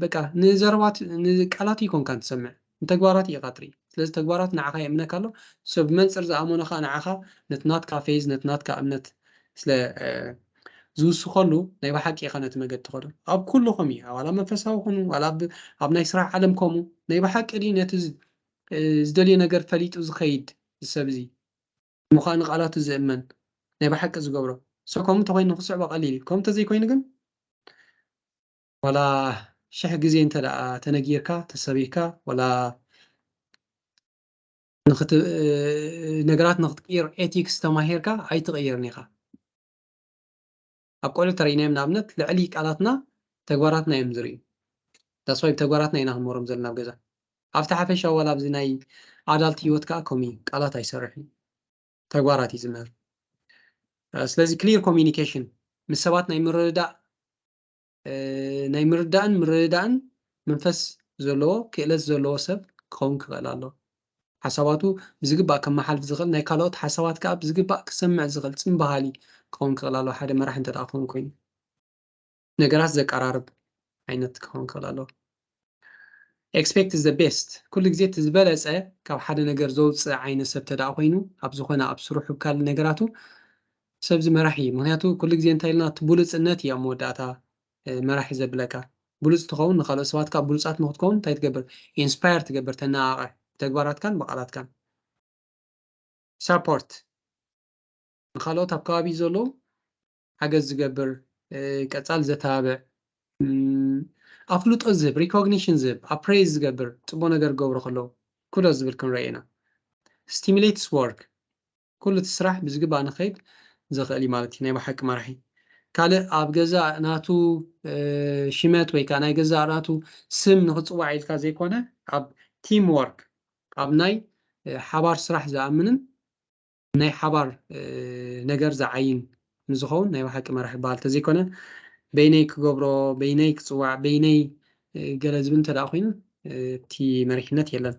በቃ ንዘረባት ንቃላት ይኮንካን ትሰምዕ ንተግባራት ኢኻ ትርኢ ስለዚ ተግባራት ንዓኻ የእምነካ ኣሎ ሶ ብመንፅር ዝኣመኖ ከዓ ንዓኻ ነቲ ናትካ ፌዝ ነቲ ናትካ እምነት ስለ ዝውስኸሉ ናይ ብሓቂ ኢኻ ነቲ መገዲ ትኸዶ ኣብ ኩሉ ከምኡ እዩ ዋላ መንፈሳዊ ኮኑ ዋላ ኣብ ናይ ስራሕ ዓለም ከምኡ ናይ ብሓቂ ድዩ ነቲ ዝደልዮ ነገር ፈሊጡ ዝኸይድ ሰብ እዚ እሞ ኸኣ ንቓላቱ ዚእመን፣ ናይ ብሓቂ ዚገብሮ። So ከምኡ እንተኾይኑ ንኽትስዕቦ ቀሊል እዩ። ከምኡ እንተዘይኮይኑ ግን፣ ዋላ ሽሕ ግዜ እንተደኣ ተነጊርካ፣ ተሰቢኽካ፣ ዋላ ንኽት ነገራት ንኽትቅይር ኤቲክስ ተማሂርካ ኣይትቕይርን ኢኻ። ኣብ ቆልዑ ተሪኢናዮም ንኣብነት ልዕሊ ቃላትና ተግባራትና እዮም ዝርእዩ that's why ብተግባራትና ኢና ክንመሮም ዘለና ኣብ ገዛ ኣብቲ ሓፈሻዊ ዋላ ኣብዚ ናይ ኣዳልት ሂወት ከዓ ከምኡ እዩ ቃላት ኣይሰርሕን እዩ ተግባራት እዩ ዝምህር ስለዚ ክሊር ኮሚኒኬሽን ምስ ሰባት ናይ ምርድዳእ ናይ ምርዳእን ምርድዳእን መንፈስ ዘለዎ ክእለት ዘለዎ ሰብ ክኸውን ክኽእል ኣለዎ ሓሳባቱ ብዝግባእ ከመሓልፍ ዝኽእል፣ ናይ ካልኦት ሓሳባት ከኣ ብዝግባእ ክሰምዕ ዝኽእል ጽን በሃሊ ክኸውን ክኽእል ኣለዎ፣ ሓደ መራሒ እንተደኣ ክኸውን ኮይኑ። ነገራት ዘቀራርብ ዓይነት ክኸውን ክኽእል ኣለዎ። ኤክስፔክት ዘ ቤስት፣ ኩሉ ግዜ እቲ ዝበለጸ ካብ ሓደ ነገር ዘውጽእ ዓይነት ሰብ እንተደኣ ኮይኑ፣ ኣብ ዝኾነ ኣብ ስርሑ ኣብ ካልእ ነገራቱ፣ ሰብዚ መራሒ እዩ። ምኽንያቱ ኩሉ ግዜ እንታይ ኢልና እቲ ብሉጽነት እዩ ኣብ መወዳእታ መራሒ ዘብለካ። ብሉጽ ትኸውን ንኻልኦት ሰባት ከኣ ብሉጻት ንኽትከውን እንታይ ትገብር? ኢንስፓየር ትገብር፣ ተነቓቕሕ፣ ብተግባራትካን ብቓላትካን። ሳፖርት ንኻልኦት ኣብ ከባቢ ዘለዉ ሓገዝ ዝገብር፣ ቀጻሊ ዘተባብዕ፣ ኣፍልጦ ዝህብ፣ ሪኮግኒሽን ዝህብ፣ ኣፕሬዝ ዝገብር፣ ጽቡቕ ነገር ክገብሩ ከለዉ ኩዶስ ዝብል ክንረኢ ኢና። ስቲሙሌትስ ወርክ ኩሉ እቲ ስራሕ ብዝግባእ ንክከይድ ዘክእል እዩ ማለት እዩ ናይ ብሓቂ መራሒ ካልእ ኣብ ገዛእ ናቱ ሽመት ወይ ከዓ ናይ ገዛእ ናቱ ስም ንክፅዋዕ ኢልካ ዘይኮነ ኣብ ቲም ወርክ ኣብ ናይ ሓባር ስራሕ ዝኣምንን ናይ ሓባር ነገር ዝዓይን ንዝኸውን ናይ ብሓቂ መራሒ ይበሃል ተዘይኮነ በይነይ ክገብሮ በይነይ ክፅዋዕ በይነይ ገለ ዝብል እንተደኣ ኮይኑ እቲ መሪሕነት የለን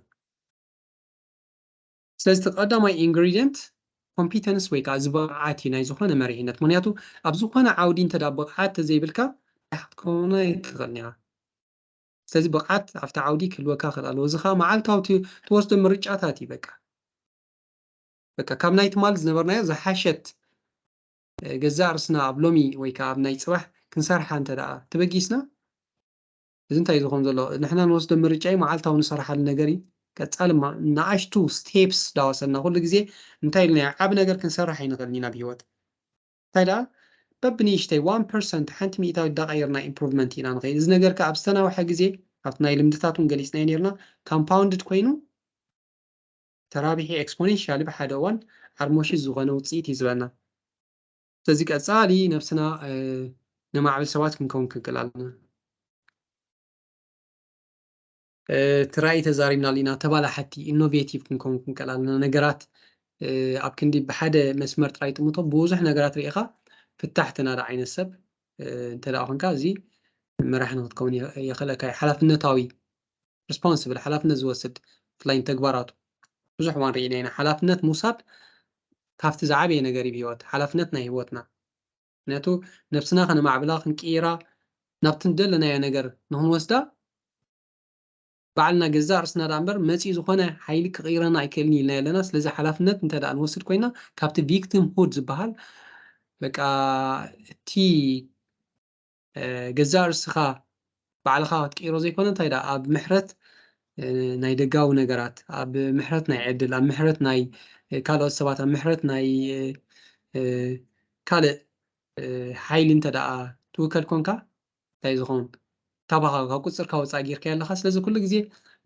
ስለዚ እቲ ቀዳማይ Ingredient Competence ወይ ከኣ እዚ ብቕዓት እዩ ናይ ዝኾነ መሪሕነት ምኽንያቱ ኣብ ዝኾነ ዓውዲ እንተ ብቕዓት ተዘይብልካ መራሕ ክትከውን ኣይትኽእልን ኢኻ ስለዚ ብቕዓት ኣብቲ ዓውዲ ክህልወካ ክኽእል ኣለዎ እዚ ከኣ መዓልታዊ ትወስዶ ምርጫታት እዩ በቃ በቃ ካብ ናይ ትማል ዝነበርናዮ ዝሓሸት ገዛእ ርስና ኣብ ሎሚ ወይ ከኣ ኣብ ናይ ጽባሕ ክንሰርሓ እንተ ደኣ ተበጊስና እዚ እንታይ እዩ ዝኮን ዘሎ ንሕና ንወስዶ ምርጫ እዩ መዓልታዊ ንሰርሓሉ ነገር እዩ ቀጻሊ እማ ንኣሽቱ ስቴፕስ ዳወሰድና ኩሉ ግዜ እንታይ ኢልና ኢና ዓቢ ነገር ክንሰርሕ ኣይንክእልን ኢና ኣብ ሂወት እንታይ ደኣ በብንእሽተይ ዋን ፐርሰንት ሓንቲ ሚእታዊት ዳቀየርና ኢምፕሩቭመንት ኢና ንከይድ እዚ ነገር ከኣ ኣብ ዝተናውሐ ግዜ ኣብቲ ናይ ልምድታት ውን ገሊጽናዮ ኔርና ካምፓውንድድ ኮይኑ ተራቢሒ ኤክስፖኔንሻሊ ብሓደ እዋን ዓርሞሽሽ ዝኮነ ውጽኢት እዩ ዝበና። ስለዚ ቀጻሊ ነብስና ነማዕብል ሰባት ክንከውን ክንክእል ኣለና እቲ ራእይ ተዛሪብናሉ ኢና ተባላሓቲ ኢኖቬቲቭ ክንከውን ክንክእል ኣለና ነገራት ኣብ ክንዲ ብሓደ መስመር ጥራይ ጥምቶ ብዙሕ ነገራት ርኢኻ ፍታሕ ተናዳ ዓይነት ሰብ እንተ ኮንካ እዚ መራሒ ንክትከውን የኽእለካ እዩ ሓላፍነታዊ Responsible ሓላፍነት ዝወስድ ብፍላይ ንተግባራቱ ብዙሕ እዋን ርኢና ኢና ሓላፍነት ምውሳድ ካብቲ ዝዓበየ ነገር እዩ ብሂወት ሓላፍነት ናይ ሂወትና ምክንያቱ ነብስና ከነማዕብላ ክንቅይራ ናብቲ ዝደለናዮ ነገር ንክንወስዳ ባዕልና ገዛእ ርስና ደኣ እምበር መጺኡ ዝኾነ ሓይሊ ክቕይረና ኣይክእልን ኢልና ኣለና ስለዚ ሓላፍነት እንተ ደኣ ንወስድ ኮይና ካብቲ ቪክቲም ሁድ ዝበሃል በቃ እቲ ገዛእ ርስኻ ባዕልኻ ክትቅይሮ ዘይኮነ እንታይ ደኣ ኣብ ምሕረት ናይ ደጋዊ ነገራት ኣብ ምሕረት ናይ ዕድል ኣብ ምሕረት ናይ ካልኦት ሰባት ኣብ ምሕረት ናይ ካልእ ሓይሊ እንተ ደኣ ትውከል ኮንካ እንታይ ዝኸውን ካባኻ ካብ ቁፅርካ ወፃእ ጌርካ ኣለኻ ስለዚ ኩሉ ግዜ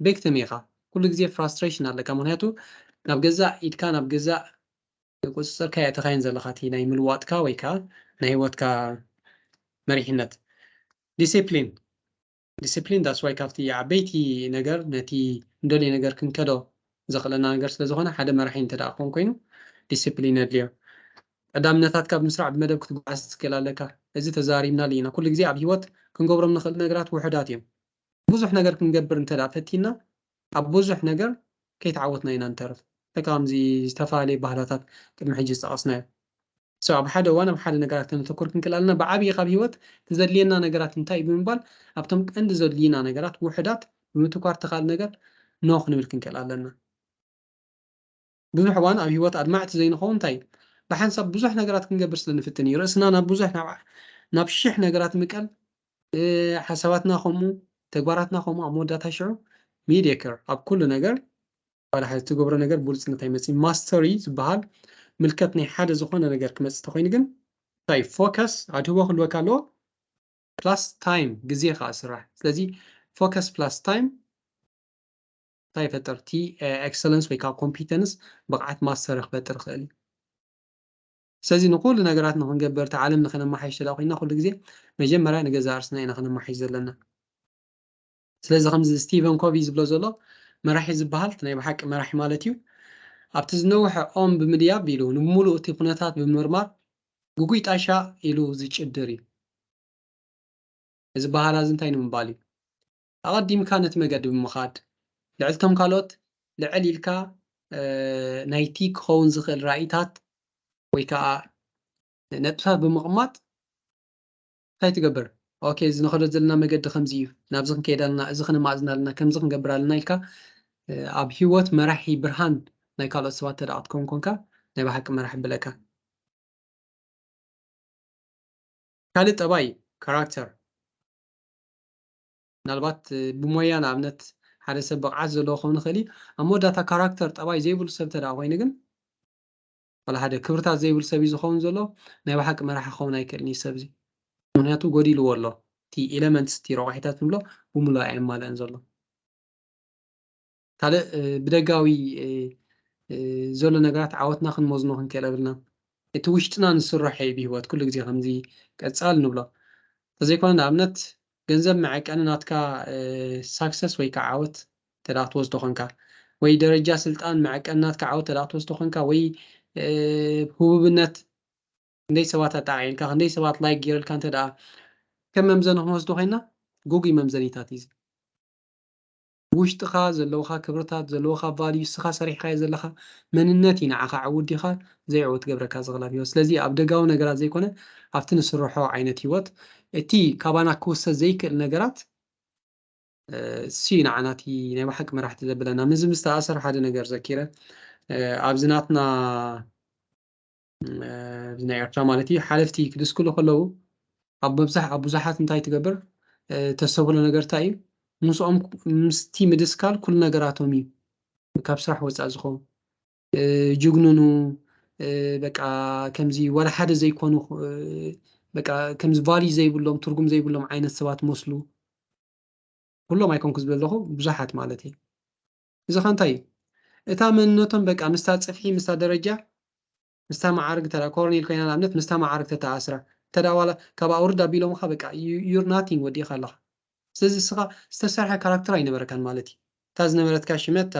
ቤክትም ኢኻ ኩሉ ግዜ ፍራስትሬሽን ኣለካ ምክንያቱ ናብ ገዛእ ኢድካ ናብ ገዛእ ተቆጽጽርካዮ እተካይን ዘለካ እቲ ናይ ምልዋጥካ ወይ ከኣ ናይ ሂወትካ መሪሕነት ዲሲፕሊን ዲሲፕሊን that's why ካብቲ ዓበይቲ ነገር ነቲ ንደልዮ ነገር ክንከዶ ዘክእለና ነገር ስለ ዝኮነ ሓደ መራሒ እንተ ደኣ ክኮን ኮይኑ ዲሲፕሊን የድልዮ ቀዳምነታትካ ብምስራዕ ብመደብ ክትጓዓዝ ክትክእል ኣለካ እዚ ተዛሪብናሉ ኢና ኩሉ ግዜ ኣብ ሂወት ክንገብሮም ንክእል ነገራት ውሑዳት እዮም ብዙሕ ነገር ክንገብር እንተ ደኣ ፈቲንና ኣብ ቡዙሕ ነገር ከይተዓወትና ኢና ንተርፍ ልክዕ ከምዚ ዝተፋላለየ ባህላታት ቅድሚ ሕጂ ዝጠቀስናዮ so ኣብ ሓደ እዋን ኣብ ሓደ ነገራት ከነተኩር ክንክእል ኣለና ብዓብይ ካብ ሂወት ትዘድልየና ነገራት እንታይ እዩ ብምባል ኣብቶም ቀንዲ ዘድልዩና ነገራት ውሑዳት ብምትኳር እቲካልእ ነገር no ክንብል ክንክእል ኣለና። ብዙሕ እዋን ኣብ ህይወት ኣድማዕቲ ዘይንኸውን እንታይ እዩ? ብሓንሳብ ብዙሕ ነገራት ክንገብር ስለ ንፍትን እዩ። ርእስና ናብ ብዙሕ ናብ ናብ ሽሕ ነገራት ምቀል ሓሳባትና ከምኡ ተግባራትና ከምኡ ኣብ መወዳእታ ሽዑ ሚዲየከር ኣብ ኩሉ ነገር ዋላ ሓዚ ትገብሮ ነገር ብሉፅነት ኣይመፅእ ማስተሪ ዝበሃል ምልከት ናይ ሓደ ዝኾነ ነገር ክመፅእ ተኮይኑ ግን እንታይ ፎከስ ኣድህቦ ክህልወካ ኣለዎ ፕላስ ታይም ግዜ ከዓ ስራሕ ስለዚ ፎከስ ፕላስ ታይም እንታይ ይፈጥር እቲ ኤክሰለንስ ወይ ከዓ ኮምፒተንስ ብቕዓት ማስተር ክፈጥር ይኽእል እዩ። ስለዚ ንኹሉ ነገራት ንክንገብር እቲ ዓለም ንክነማሓይሽ ተዳ ኮይና ኩሉ ግዜ መጀመርያ ንገዛእ ርስና ኢና ክነማሓይሽ ዘለና ስለዚ ከምዚ ስቲቨን ኮቪ ዝብሎ ዘሎ መራሒ ዝበሃል ናይ ብሓቂ መራሒ ማለት እዩ ኣብቲ ዝነውሐ ኦም ብምድያብ ኢሉ ንምሉእ እቲ ኩነታት ብምርማር ጉጉይ ጣሻ ኢሉ ዝጭድር እዩ እዚ በሃላ እዚ እንታይ ንምባል እዩ ኣቐዲምካ ነቲ መገዲ ብምኻድ፣ ልዕል'ቶም ካልኦት ልዕል ኢልካ ናይቲ ክኸውን ዝኽእል ራኢታት ወይ ከኣ ነጥብታት ብምቕማጥ እንታይ ትገብር? ኦኬ እዚ ንኸዶ ዘለና መገዲ ከምዚ እዩ፣ ናብዚ ክንከይድ ኣለና፣ እዚ ክነማእዝን ኣለና፣ ከምዚ ክንገብር ኣለና ኢልካ ኣብ ህይወት መራሒ ብርሃን ናይ ካልኦት ሰባት እንተደኣ ክትከውን ኮንካ ናይ ብሓቂ መራሒ የብለካ። ካልእ ጠባይ እዩ ካራክተር። ምናልባት ብሞያ ንኣብነት ሓደ ሰብ ብቕዓት ዘለዎ ክኸውን ይኽእል እዩ። ኣብ መወዳእታ ካራክተር፣ ጠባይ፣ ዘይብሉ ሰብ እንተድኣ ኮይኑ ግን፣ ዋላ ሓደ ክብርታት ዘይብሉ ሰብ እዩ ዝኸውን ዘሎ። ናይ ብሓቂ መራሒ ክኸውን ኣይክእልን እዩ እዚ ሰብ እዚ። ምኽንያቱ ጎዲልዎ ኣሎ። እቲ ኢለመንትስ፣ እቲ ረቋሒታት ንብሎ ብምሉእ ኣየማልእን ዘሎ። ካልእ ብደጋዊ ዘሎ ነገራት ዓወትና ክንመዝኖ ክንክእል የብልናን። እቲ ውሽጥና ንስራሖ እዩ ብህይወት ኩሉ ግዜ ከምዚ ቀጻሊ ንብሎ። እንተዘይኮነ ንኣብነት ገንዘብ መዐቀኒ ናትካ ሳክሰስ ወይ ከኣ ዓወት እንተ ክትወስዶ ኮንካ፣ ወይ ደረጃ ስልጣን መዐቀኒ ናትካ ዓወት እንተ ክትወስዶ ኮንካ፣ ወይ ህቡብነት ክንደይ ሰባት ኣጣዓዒምካ፣ ክንደይ ሰባት ላይክ ገይረልካ እንተ ከም መምዘኒ ክንወስዶ ኮይና ጉጉይ መምዘኒታት እዩ እዚ። ብውሽጥኻ ዘለውኻ ክብርታት ዘለውኻ ቫልዩ እስኻ ሰሪሕኻዮ ዘለኻ መንነት እዩ ንዓኻ ዕውት ዲኻ ዘይዕውት ዝገብረካ ዝኽላፍ ሂወት ስለዚ ኣብ ደጋዊ ነገራት ዘይኮነ ኣብቲ ንስርሖ ዓይነት ሂወት እቲ ካባና ክውሰ ዘይክእል ነገራት እሱ እዩ ንዓና እቲ ናይ ብሓቂ መራሕቲ ዘብለና ምስዚ ምስ ተኣሰር ሓደ ነገር ዘኪረ ኣብዚ ናትና ናይ ኤርትራ ማለት እዩ ሓለፍቲ ክድስክሉ ከለዉ ኣብ መብዛሕ ኣብ ብዙሓት እንታይ ትገብር ተሰብሎ ነገር እንታይ እዩ ምስኦም ምስቲ ምድስካል ኩሉ ነገራቶም እዩ ካብ ስራሕ ወፃእ ዝኾኑ ጅግንኑ በቃ ከምዚ ዋላ ሓደ ዘይኮኑ በቃ ከምዚ ቫልዩ ዘይብሎም ትርጉም ዘይብሎም ዓይነት ሰባት መስሉ ኩሎም ኣይኮንኩ ዝብል ኣለኹ ብዙሓት ማለት እዩ እዚኸ እንታይ እዩ? እታ መንነቶም በቃ ምስታ ጽፍሒ ምስታ ደረጃ ምስታ መዓርግ እንተ ኮርኔል ኮይና ንኣብነት ምስታ መዓርግ ተተኣስራ እንተ ዋላ ካብ ኣውርድ ኣቢሎምኻ በቃ ዩር ናቲንግ ወዲእኻ ኣለኻ። ስለዚ እስኻ ዝተሰርሐ ካራክተር ኣይነበረካን ማለት እዩ። እታ ዝነበረትካ ሽመት እታ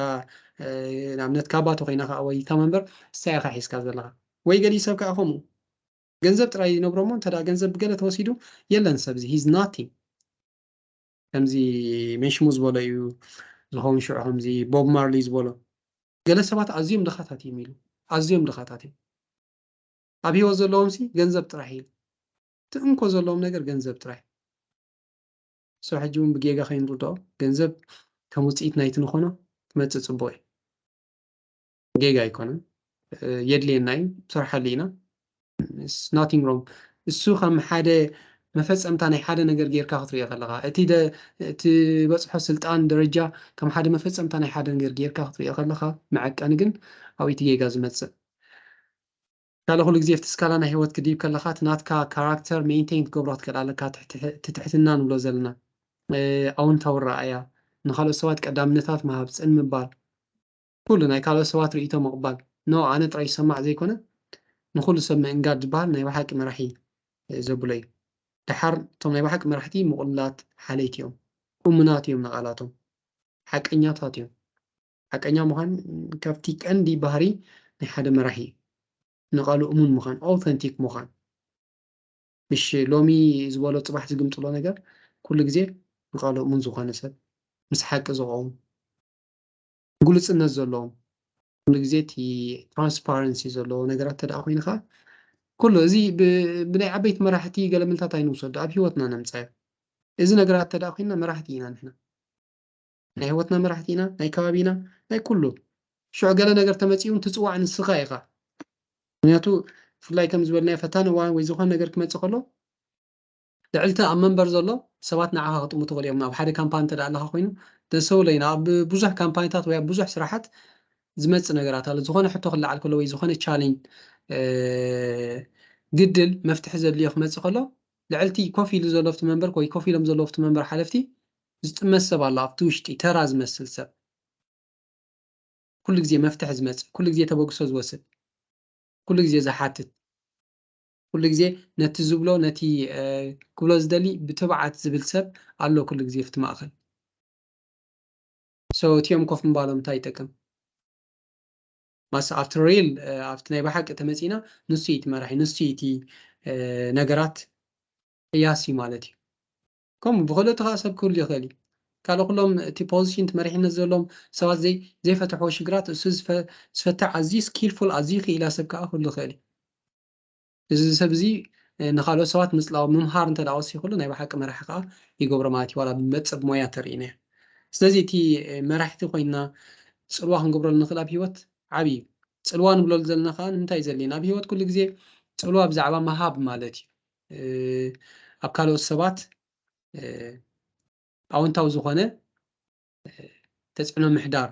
ንኣብነት ካባቶ ኮይና ከዓ ወይ እታ መንበር ንሳ ኢኻ ሒዝካ ዘለኻ ወይ ገሊኡ ሰብ ከዓ ከምኡ ገንዘብ ጥራይ ይነብሮ እሞ እንተ ገንዘብ ብገለ ተወሲዱ የለን ሰብዚ ሂዝ ናቲንግ ከምዚ መንሽሙ ዝበሎ እዩ ዝኸውን ሽዑ ከምዚ ቦብ ማርሊ ዝበሎ ገለ ሰባት ኣዝዮም ድኻታት እዮም ኢሉ ኣዝዮም ድኻታት እዮም ኣብ ሂወት ዘለዎም ሲ ገንዘብ ጥራሕ ኢሉ እቲ እንኮ ዘለዎም ነገር ገንዘብ ጥራሕ ሶ ሕጂ እውን ብጌጋ ከይንርድኦ ገንዘብ ከም ውፅኢት ናይቲ ንኾኖ ትመፅእ ፅቡቅ እዩ ጌጋ ኣይኮነን የድልየና እዩ ስርሓሉ ኢና ናቲንግ ሮንግ እሱ ከም ሓደ መፈጸምታ ናይ ሓደ ነገር ጌርካ ክትሪኦ ከለካ እቲ ትበፅሖ ስልጣን ደረጃ ከም ሓደ መፈጸምታ ናይ ሓደ ነገር ጌርካ ክትሪኦ ከለካ መዐቀኒ ግን ኣብ እቲ ጌጋ ዝመፅእ ካለ ኩሉ ግዜ ኣብቲ ስካላ ናይ ህይወት ክድይብ ከለካ እቲ ናትካ ካራክተር ሜንቴን ክትገብሮ ክትክእል ኣለካ ትትሕትና ንብሎ ዘለና ኣውንታዊ ረኣያ ንካልኦት ሰባት ቀዳምነታት ምሃብ ፅን ምባል ኩሉ ናይ ካልኦት ሰባት ርእይቶ ምቕባል ን ኣነ ጥራይ ዝሰማዕ ዘይኮነ ንኹሉ ሰብ ምእንጋድ ዝበሃል ናይ በሓቂ መራሒ ዘብሎ እዩ። ደሓር እቶም ናይ በሓቂ መራሕቲ ምቑሉላት ሓለይቲ እዮም። እሙናት እዮም ንቓላቶም። ሓቀኛታት እዮም። ሓቀኛ ምዃን ካብቲ ቀንዲ ባህሪ ናይ ሓደ መራሒ እዩ። ንቓሉ እሙን ምዃን፣ Authentic ምዃን። ምሽ ሎሚ ዝበሎ ጽባሕ ዝግምጥሎ ነገር ኩሉ ግዜ ንቓሉ እሙን ዝኾነ ሰብ ምስ ሓቂ ዝቖም። ግሉጽነት ዘለዎ ኩሉ ግዜ እቲ ትራንስፓረንሲ ዘለዎ ነገራት እንተደኣ ኮይንካ ኩሉ እዚ ብናይ ዓበይቲ መራሕቲ ገለመልታት ኣይንውሰዶ ኣብ ሂወትና ነምጻዮ እዚ ነገራት እንተደኣ ኮይንና መራሕቲ ኢና ንሕና ናይ ሂወትና መራሕቲ ኢና ናይ ከባቢና ናይ ኩሉ ሽዑ ገለ ነገር ተመጺኡ ትጽዋዕ ንስኻ ኢኻ ምክንያቱ ብፍላይ ከም ዝበልናዮ ፈታኒ እዋን ወይ ዝኾነ ነገር ክመጽእ ከሎ ልዕልቲ ኣብ መንበር ዘሎ ሰባት ንዓኻ ክጥምቱ ይኽእሉ እዮም። ኣብ ሓደ ካምፓኒ እንተ ኣለኻ ኮይኑ ደሰውለይን ኣብ ብዙሕ ካምፓኒታት ወይ ኣብ ብዙሕ ስራሓት ዝመጽእ ነገራት ኣሎ። ዝኾነ ሕቶ ክለዓል ከሎ ወይ ዝኾነ ቻሌንጅ ግድል መፍትሒ ዘድልዮ ክመጽእ ከሎ ልዕልቲ ኮፍ ኢሉ ዘሎ ኣብቲ መንበር ወይ ኮፍ ኢሎም ዘለዉ ኣብቲ መንበር ሓለፍቲ ዝጥመት ሰብ ኣሎ ኣብቲ ውሽጢ ተራ ዝመስል ሰብ ኩሉ ግዜ መፍትሒ ዝመጽእ ኩሉ ግዜ ተበግሶ ዝወስድ ኩሉ ግዜ ዝሓትት ኩሉ ግዜ ነቲ ዝብሎ ነቲ ክብሎ ዝደሊ ብትብዓት ዝብል ሰብ ኣሎ ኩሉ ግዜ ኣብቲ ማእከል ሶ እቲኦም ኮፍ ምባሎም እንታይ ይጠቅም ማስ ኣብቲ ሪል ኣብቲ ናይ ብሓቂ ተመጺና ንሱ እቲ መራሒ ንሱ እቲ ነገራት ቅያሲ ማለት እዩ ከምኡ ብክልእ እቲ ከዓ ሰብ ክህሉ ይኽእል እዩ ካልእ ኩሎም እቲ ፖዚሽን እቲ መሪሕነት ዘለዎም ሰባት ዘይፈትሕዎ ሽግራት እሱ ዝፈትሕ ኣዝዩ ስኪልፉል ኣዝዩ ክኢላ ሰብ ከዓ ክህሉ ይኽእል እዩ እዚ ሰብ እዚ ንካልኦት ሰባት ምጽላው ምምሃር እንተ ወሲኽሉ ናይ ብሓቂ መራሒ ከኣ ይገብሮ ማለት እዩ ዋላ ብመጸ ብሞያ ተርእይና እያ ስለዚ እቲ መራሕቲ ኮይንና ጽልዋ ክንገብረሉ ንኽእል ኣብ ሂወት ዓቢ እዩ ጽልዋ ንብለሉ ዘለና ከኣ ንምንታይ እዩ ዘድልየና ኣብ ሂወት ኩሉ ግዜ ጽልዋ ብዛዕባ ምሃብ ማለት እዩ ኣብ ካልኦት ሰባት ኣወንታዊ ዝኾነ ተጽዕኖ ምሕዳር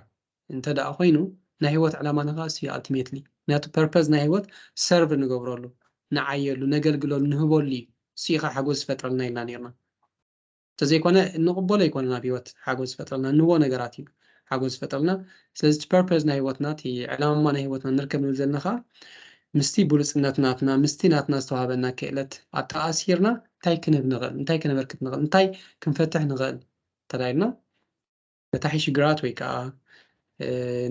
እንተ ደኣ ኮይኑ ናይ ህይወት ዕላማና ከኣ እሱ እዩ ኣልቲሜትሊ ምክንያቱ ፐርፐዝ ናይ ህይወት ሰርቭ ንገብረሉ ንዓየሉ ነገልግለሉ ንህበሉ እዩ እሱ እዩ ከኣ ሓጎስ ዝፈጥረልና ኢልና ኔርና እንተዘይኮነ እንቕበሎ ኣይኮነን ኣብ ህይወት ሓጎስ ዝፈጥረልና እንህቦ ነገራት እዩ ሓጎስ ዝፈጥረልና ስለዚ እቲ ፐርፐዝ ናይ ህይወትና እቲ ዕላማ ናይ ህይወትና ንርከብ ንብል ዘለና ከኣ ምስቲ ብሉጽነት ናትና ምስቲ ናትና ዝተዋሃበና ክእለት ኣተኣሲርና እንታይ ክንህብ ንኽእል እንታይ ከነበርክት ንኽእል እንታይ ክንፈትሕ ንኽእል ተላኢልና መታሓይሺ ግራት ወይ ከኣ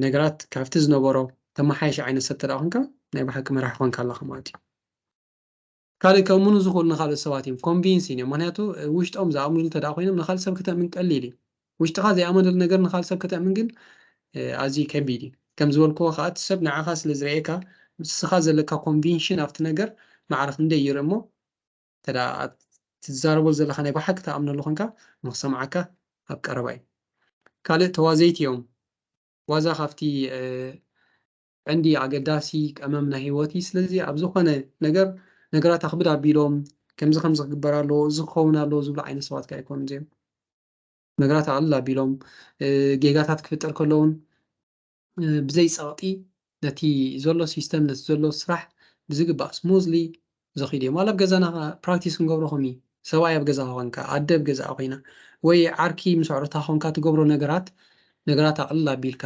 ነገራት ካብቲ ዝነበሮ ተማሓይሽ ዓይነት ሰብ ተደኣ ኮንካ ናይ ብሓቂ መራሒ ኮንካ ኣለኻ ማለት እዩ። ካልእ ከእምኑ ዝኽእሉ ንኻልኦት ሰባት እዮም ኮንቪንስ እዮም ምክንያቱ ውሽጦም ዝኣምንሉ ተደኣ ኮይኖም ንኻልእ ሰብ ከተእምን ቀሊል እዩ ውሽጥኻ ዘይኣመነሉ ነገር ንኻልእ ሰብ ከተእምን ግን ኣዝዩ ከቢድ እዩ ከም ዝበልክዎ ከዓ እቲ ሰብ ንዓኻ ስለ ዝርእየካ ምስኻ ዘለካ ኮንቪንሽን ኣብቲ ነገር ማዕረ ክንደይ ይርኢ እሞ እንተደኣ እቲ ትዛረቦ ዘለኻ ናይ ብሓቂ ትኣምነሉ ኮንካ ንኽሰምዓካ ኣብ ቀረባ እዩ። ካልእ ተዋዘይቲ እዮም ዋዛ ካብቲ ዕንዲ ኣገዳሲ ቀመም ናይ ህይወት እዩ። ስለዚ ኣብ ዝኾነ ነገር ነገራት ኣኽብድ ኣቢሎም ከምዚ ከምዚ ክግበር ኣለዎ እዚ ክኸውን ኣለዎ ዝብሉ ዓይነት ሰባት ከ ኣይኮኑን እዚኦም። ነገራት ኣቕልል ኣቢሎም ጌጋታት ክፍጠር ከሎ እውን ብዘይ ጸቕጢ ነቲ ዘሎ ሲስተም ነቲ ዘሎ ስራሕ ብዝግባእ ስሙዝሊ ዘኺድ እዮም ዋላ ኣብ ገዛና ከኣ ፕራክቲስ ክንገብሮ ከምኡ እዩ ሰብኣይ ኣብ ገዛኻ ኮንካ ኣደ ኣብ ገዛኣ ኮይና ወይ ዓርኪ ምስ ኣዕሩታ ኮንካ ትገብሮ ነገራት ነገራት ኣቕልል ኣቢልካ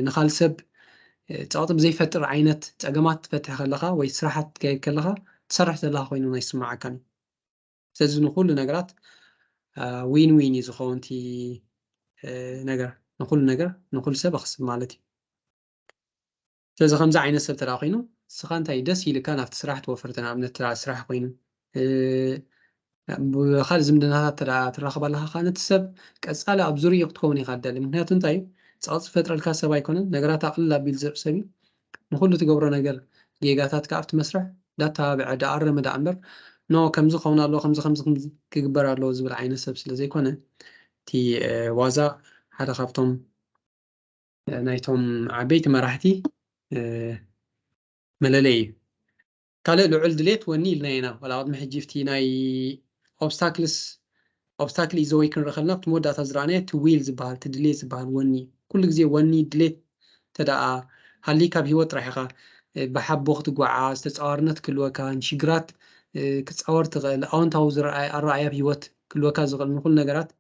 ንኻልእ ሰብ ጸቕጢ ብዘይፈጥር ዓይነት ጸገማት ትፈትሕ ከለኻ ወይ ስራሓት ትካየድ ከለኻ ትሰርሕ ዘለኻ ኮይኑ ኣይስምዓካን ስለዚ ንኩሉ ነገራት ዊን ዊን እዩ ዝኸውን እቲ ነገር ንኩሉ ነገር ንኩሉ ሰብ ኣክስብ ማለት እዩ ስለዚ ከምዚ ዓይነት ሰብ ተደኣ ኮይኑ ንስኻ እንታይ ደስ ኢልካ ናብቲ ስራሕ ትወፍር ንኣብነት ተደኣ ስራሕ ኮይኑ ብካልእ ዝምድናታት ተደኣ ትራኸብ ኣለካ ከዓ ነቲ ሰብ ቀፃሊ ኣብ ዙርኡ ክትከውን ኢኻ ትደሊ ምክንያቱ እንታይ እዩ ፀቕጢ ዝፈጥረልካ ሰብ ኣይኮነን ነገራት ኣቕልል ኣቢሉ ዝርእ ሰብ እዩ ንኹሉ ትገብሮ ነገር ጌጋታትካ ኣብቲ መስርሕ ዳተባብዐ ዳኣረመ ዳኣምበር ን ከምዚ ክኸውን ኣለዎ ከምዚ ከምዚ ከምዚ ክግበር ኣለዎ ዝብል ዓይነት ሰብ ስለ ዘይኮነ እቲ ዋዛ ሓደ ካብቶም ናይቶም ዓበይቲ መራሕቲ መለለይ እዩ። ካልእ ልዑል ድሌት ወኒ ኢልና ኢና ዋላ ቅድሚ ሕጂ ብቲ ናይ ኦብስታክልስ ኦብስታክል ኢዝ ዘ ዌይ ክንርኢ ከለና ኣብቲ መወዳእታ ዝረኣናዮ እቲ ዊል ዝበሃል እቲ ድሌት ዝበሃል ወኒ ኩሉ ግዜ ወኒ ድሌት እንተደኣ ሃልይካ ኣብ ሂወት ጥራሕ ኢኻ ብሓቦ ክትጓዓዝ ተጻዋርነት ክህልወካ ንሽግራት ክትጻወር ትኽእል ኣወንታዊ ዝረኣይ ኣረኣእያ ኣብ ሂወት ክህልወካ ዝኽእል ንኹሉ ነገራት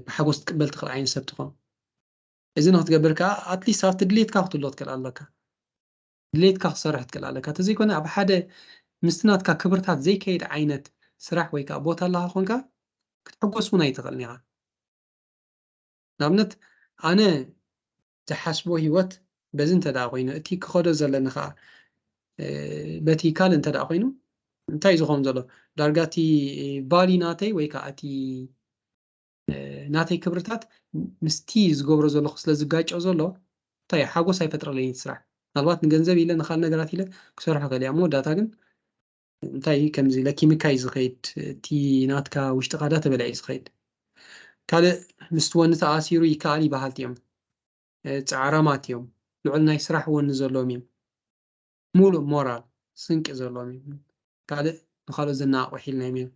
ብሓጎስ ትቅበል ትኽእል ዓይነት ሰብ ትኾን እዚ ንክትገብር ከዓ ኣትሊስት ኣብቲ ድሌትካ ክትህልዎ ትክእል ኣለካ ድሌትካ ክሰርሕ ትክእል ኣለካ ተዘይኮነ ኣብ ሓደ ምስቲ ናትካ ክብርታት ዘይከይድ ዓይነት ስራሕ ወይ ከኣ ቦታ ኣለካ ኮንካ ክትሕጎስ ውን ኣይትክእልን ኢካ ንኣብነት ኣነ ዝሓስቦ ሂወት በዚ እንተ ኮይኑ እቲ ክኸዶ ዘለኒ ከኣ በቲ ካልእ እንተ ኮይኑ እንታይ ዝኸውን ዘሎ ዳርጋ እቲ ቫሊ ናተይ ወይ ከኣ እቲ ናተይ ክብርታት ምስቲ ዝገብሮ ዘለኹ ስለ ዝጋጮ ዘሎ እንታይ እዩ ሓጎስ ኣይፈጥረለይን እቲ ስራሕ ምናልባት ንገንዘብ ኢለ ንካል ነገራት ኢለ ክሰርሖ ከልያ እሞ ዳታ ግን እንታይ እዩ ከምዚ ለኪምካ እዩ ዝኸይድ እቲ ናትካ ውሽጥኻ ዳ ተበልዐ እዩ ዝኸይድ ካልእ ምስቲ ወኒ ተኣሲሩ ይከኣል ይበሃልቲ እዮም ፃዕራማት እዮም ልዑል ናይ ስራሕ ወኒ ዘለዎም እዮም ሙሉእ ሞራል ስንቂ ዘለዎም እዮም ካልእ ንካልኦት ዘነቓቕሑ ሒልናዮም እዮም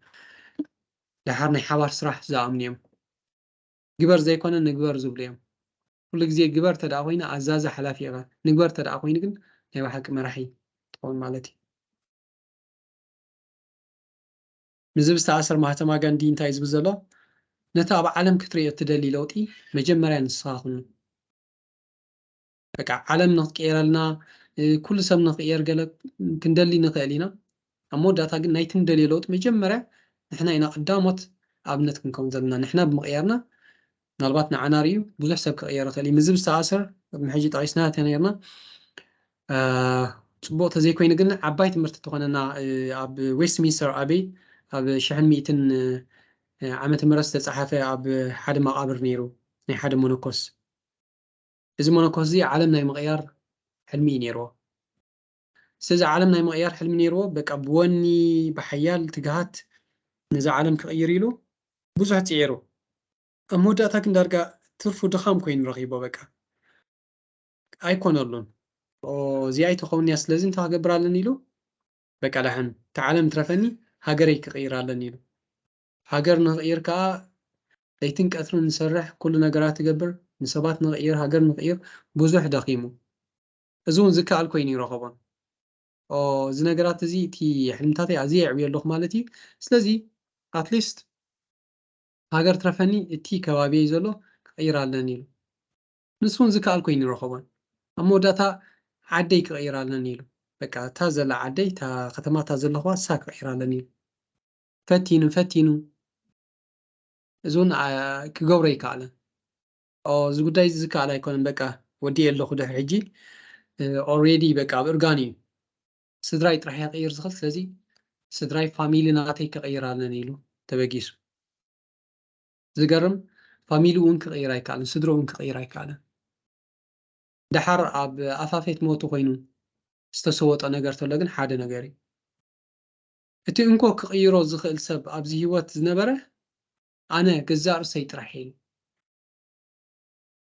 ደሓር ናይ ሓባር ስራሕ ዝኣምኑ እዮም ግበር ዘይኮነ ንግበር ዝብሉ እዮም ኩሉ ግዜ ግበር ተደኣ ኮይኑ ኣዛዚ ሓላፊ ኢኻ ንግበር ተደኣ ኮይኑ ግን ናይ ብሓቂ መራሒ ትኸውን ማለት እዩ ምስዚ ዝተኣሰር ማህተማ ጋንዲ እንታይ እዩ ዝብል ዘሎ ነቲ ኣብ ዓለም ክትርእዮ እትደሊ ለውጢ መጀመርያ ንስኻ ኩኑ በቃ ዓለም ንክትቅየረልና ኩሉ ሰብ ንክቅየር ገለ ክንደሊ ንክእል ኢና ኣብ መወዳእታ ግን ናይቲ ንደልዮ ለውጢ መጀመርያ ንሕና ኢና ቀዳሞት ኣብነት ክንከውን ዘለና ንሕና ብምቅያርና ምናልባት ንዓና ሪኡ ብዙሕ ሰብ ክቅየር ይክእል እዩ ምዝብ ዝተኣሰር ቅድሚ ሕጂ ጠቂስና ተነርና ፅቡቅ ተዘይኮይኑ ግን ዓባይ ትምህርቲ ተኾነና ኣብ ዌስትሚንስተር ኣበይ ኣብ ሽሕን ሚእትን ዓመተ ምህረት ዝተፀሓፈ ኣብ ሓደ መቃብር ነይሩ ናይ ሓደ መነኮስ እዚ መነኮስዚ ዓለም ናይ ምቕያር ሕልሚ እዩ ኔርዎ። ስለዚ ዓለም ናይ ምቕያር ሕልሚ ኔርዎ በቃ ብወኒ ብሓያል ትግሃት ነዛ ዓለም ክቕይር ኢሉ ብዙሕ ጽዒሩ። ኣብ መወዳእታ ግን ዳርጋ ትርፉ ድኻም ኮይኑ ረኺቦ በቃ ኣይኮነሉን። እዚኣ ኣይትኸውንንያ ስለዚ እንታይ ክገብር ኣለኒ ኢሉ በቃ ደሓን እታ ዓለም ትረፈኒ ሃገረይ ክቕይር ኣለኒ ኢሉ ሃገር ንቕይር ከኣ ለይትን ቀትርን ንሰርሕ ኩሉ ነገራት ትገብር ንሰባት ንቕይር ሃገር ንቕይር ብዙሕ ደኺሙ እዚ ውን ዝከኣል ኮይኑ ይረኸቦን ኦህ እዚ ነገራት እዚ እቲ ሕልምታተይ ኣዝየ የዕብዮ ኣለኹ ማለት እዩ ስለዚ ኣትሊስት ሃገር ትረፈኒ እቲ ከባቢየይ ዘሎ ክቕይር ኣለኒ ኢሉ ንሱ ውን ዝከኣል ኮይኑ ይረኸቦን ኣብ መወዳእታ ዓደይ ክቕይር ኣለኒ ኢሉ በቃ እታ ዘላ ዓደይ እታ ከተማ እታ ዘለኹዋ እሳ ክቕይር ኣለኒ ኢሉ ፈቲኑ ፈቲኑ እዚ ውን ክገብሮ ኣይከኣለን። ኦው እዚ ጉዳይ እዚ ዝከኣል ኣይኮነን በቃ ወዲኤ ኣለኹ ድሕሪ ሕጂ ኦሬዲ በቃ ኣብ እርጋን እዩ ስድራይ ጥራሕ እየ ክቕይር ዝኽእል ስለዚ ስድራይ ፋሚሊ ናተይ ክቕይር ኣለኒ ኢሉ ተበጊሱ። ዝገርም ፋሚሊ እውን ክቕይር ኣይከኣለን ስድርኡ እውን ክቕይር ኣይከኣለን። ደሓር ኣብ ኣፋፌት ሞቱ ኮይኑ ዝተሰወጦ ነገር ተሎ ግን ሓደ ነገር እዩ። እቲ እንኮ ክቕይሮ ዝኽእል ሰብ ኣብዚ ህይወት ዝነበረ ኣነ ገዛእ ርእሰይ ጥራሕ እየ።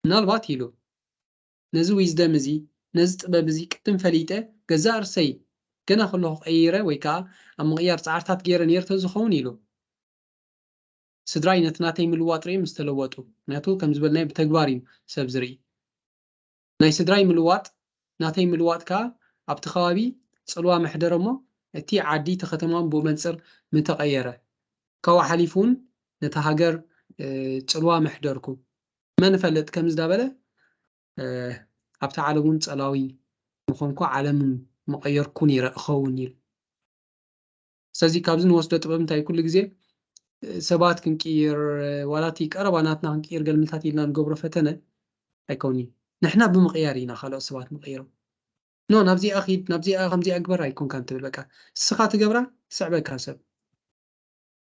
ምናልባት ኢሉ፣ ነዚ ዊዝደም እዚ፣ ነዚ ጥበብ እዚ ቅድም ፈሊጠ ገዛእ ርእሰይ ገና ከለኹ ቀይረ ወይ ከኣ ኣብ ምቕያር ጻዕርታት ገይረ ነይረ ተዝኸውን ኢሉ። ስድራይ ነቲ ናተይ ምልዋጥ ርእዮም ዝተለወጡ፣ ምኽንያቱ ከም ዝበልናዮ ብተግባር እዩ ሰብ ዝርኢ። ናይ ስድራይ ምልዋጥ ናተይ ምልዋጥ ከኣ ኣብቲ ከባቢ ጽልዋ መሕደረ እሞ እቲ ዓዲ እቲ ከተማውን ብኡ መንጽር ምተቐየረ። ካብኡ ሓሊፉ ውን ነታ ሃገር ጽልዋ መሕደርኩ። መን እፈልጥ ከምዚ እንዳበለ ኣብታ ዓለም ውን ጸላዊ ምኾንኩ ዓለም ምቐየርኩ ኔረ እኸውን ኢሉ። ስለዚ ካብዚ ንወስዶ ጥበብ እንታይ ኩሉ ግዜ ሰባት ክንቅይር ዋላ እቲ ቀረባ ናትና ክንቅይር ገልምታት ኢልና ንገብሮ ፈተነ ኣይከውን እዩ ንሕና ብምቕያር ኢና ካልኦት ሰባት ንቕይሮም ኖ ናብዚኣ ኺድ ናብዚኣ ከምዚኣ ግበር ኣይኮንካን ትብል በቃ እስኻ ትገብራ ትስዕበካ ሰብ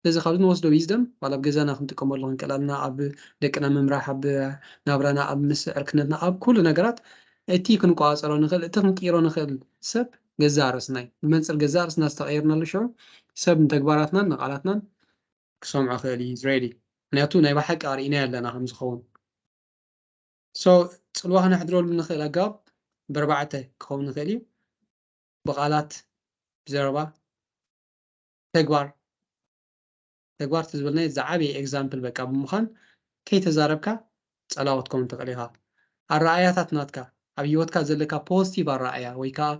ስለዚ ካብዚ ንወስዶ ዊዝደም ዋላ ኣብ ገዛና ክንጥቀመሉ ክንቀላልና ኣብ ደቅና ምምራሕ ኣብ ናብራና ኣብ ምስ ዕርክነትና ኣብ ኩሉ ነገራት እቲ ክንቆፃፀሮ ንኽእል እቲ ክንቅይሮ ንኽእል ሰብ ገዛእ ርእስና'ዩ። ብመንጽር ገዛእ ርእስና ዝተቐየርናሉ ሽዑ፣ ሰብ ንተግባራትናን ንቓላትናን ክሰምዖ ክኽእል እዩ፣ Israeli፣ ምኽንያቱ ናይ ብሓቂ ኣርኢናዮ ኣለና ከም ዝኸውን። So፣ ጽልዋ ክነሕድረሉ እንኽእል ኣገባብ በርባዕተ ክኸውን ይኽእል እዩ፣ ብቓላት፣ ብዘረባ፣ ተግባር፣ ተግባር ተዝበልናዮ ዝዓበየ ኤግዛምፕል በቃ ብምዃን ከይተዛረብካ ጸላዎት ኮን ትኽእል ኢኻ ኣረኣእያታት ናትካ ኣብ ሂወትካ ዘለካ ፖዝቲቭ ኣረኣእያ ወይ ከኣ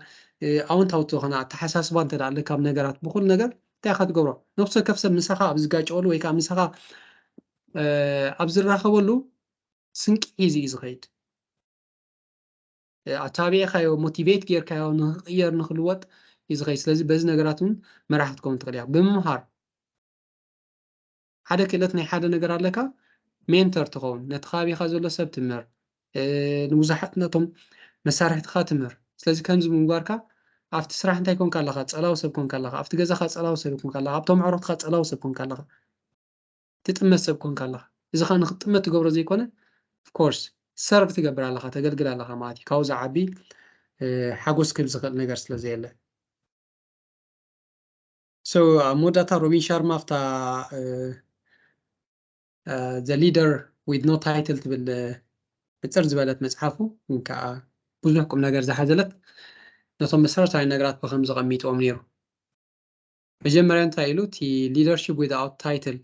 ኣወንታዊ ዝኾነ ኣተሓሳስባ እንተ ኣለካ ኣብ ነገራት ብኹሉ ነገር እንታይ ኢኻ ትገብሮ ነፍሲ ወከፍ ሰብ ምሳኻ ኣብ ዝጋጨወሉ ወይ ከኣ ምሳኻ ኣብ ዝራኸበሉ ስንቂ ሒዙ እዩ ዝኸይድ ኣተባቢዕካዮ ሞቲቬት ጌርካዮ ንክቕየር ንክልወጥ እዩ ዝኸይድ ስለዚ በዚ ነገራት እውን መራሒ ክትከውን ትኽእል ኢኻ ብምምሃር ሓደ ክእለት ናይ ሓደ ነገር ኣለካ ሜንተር ትኸውን ነቲ ከባቢኻ ዘሎ ሰብ ትምህር ንብዙሓት ነቶም መሳርሕትኻ ትምህር ስለዚ ከምዚ ምንጓርካ ኣብቲ ስራሕ እንታይ ኮንካ ኣለኻ ፀላዊ ሰብ ኮንካ ኣለኻ ኣብቲ ገዛኻ ፀላዊ ሰብ ኮንካ ኣለኻ ኣብቶም ኣዕሩኽትኻ ፀላዊ ሰብ ኮንካ ኣለኻ ትጥመት ሰብ ኮንካ ኣለኻ እዚ ከኣ ንክትጥመት ትገብሮ ዘይኮነ of course serve ትገብር ኣለኻ ተገልግል ኣለኻ ማለት እዩ ካብኡ ዝዓቢ ሓጎስ ክህብ ዝኽእል ነገር ስለ ዘየለ so ኣብ መወዳእታ ሮቢን ሻርማ ኣብታ the leader with no title ትብል ሕፅር ዝበለት መፅሓፉ ግን ከዓ ብዙሕ ቁም ነገር ዝሓዘለት ነቶም መሰረታዊ ነገራት ብከም ዘቐሚጥዎም ነይሩ መጀመርያ እንታይ ኢሉ እቲ ሊደርሺፕ ዊዝኣውት ታይትል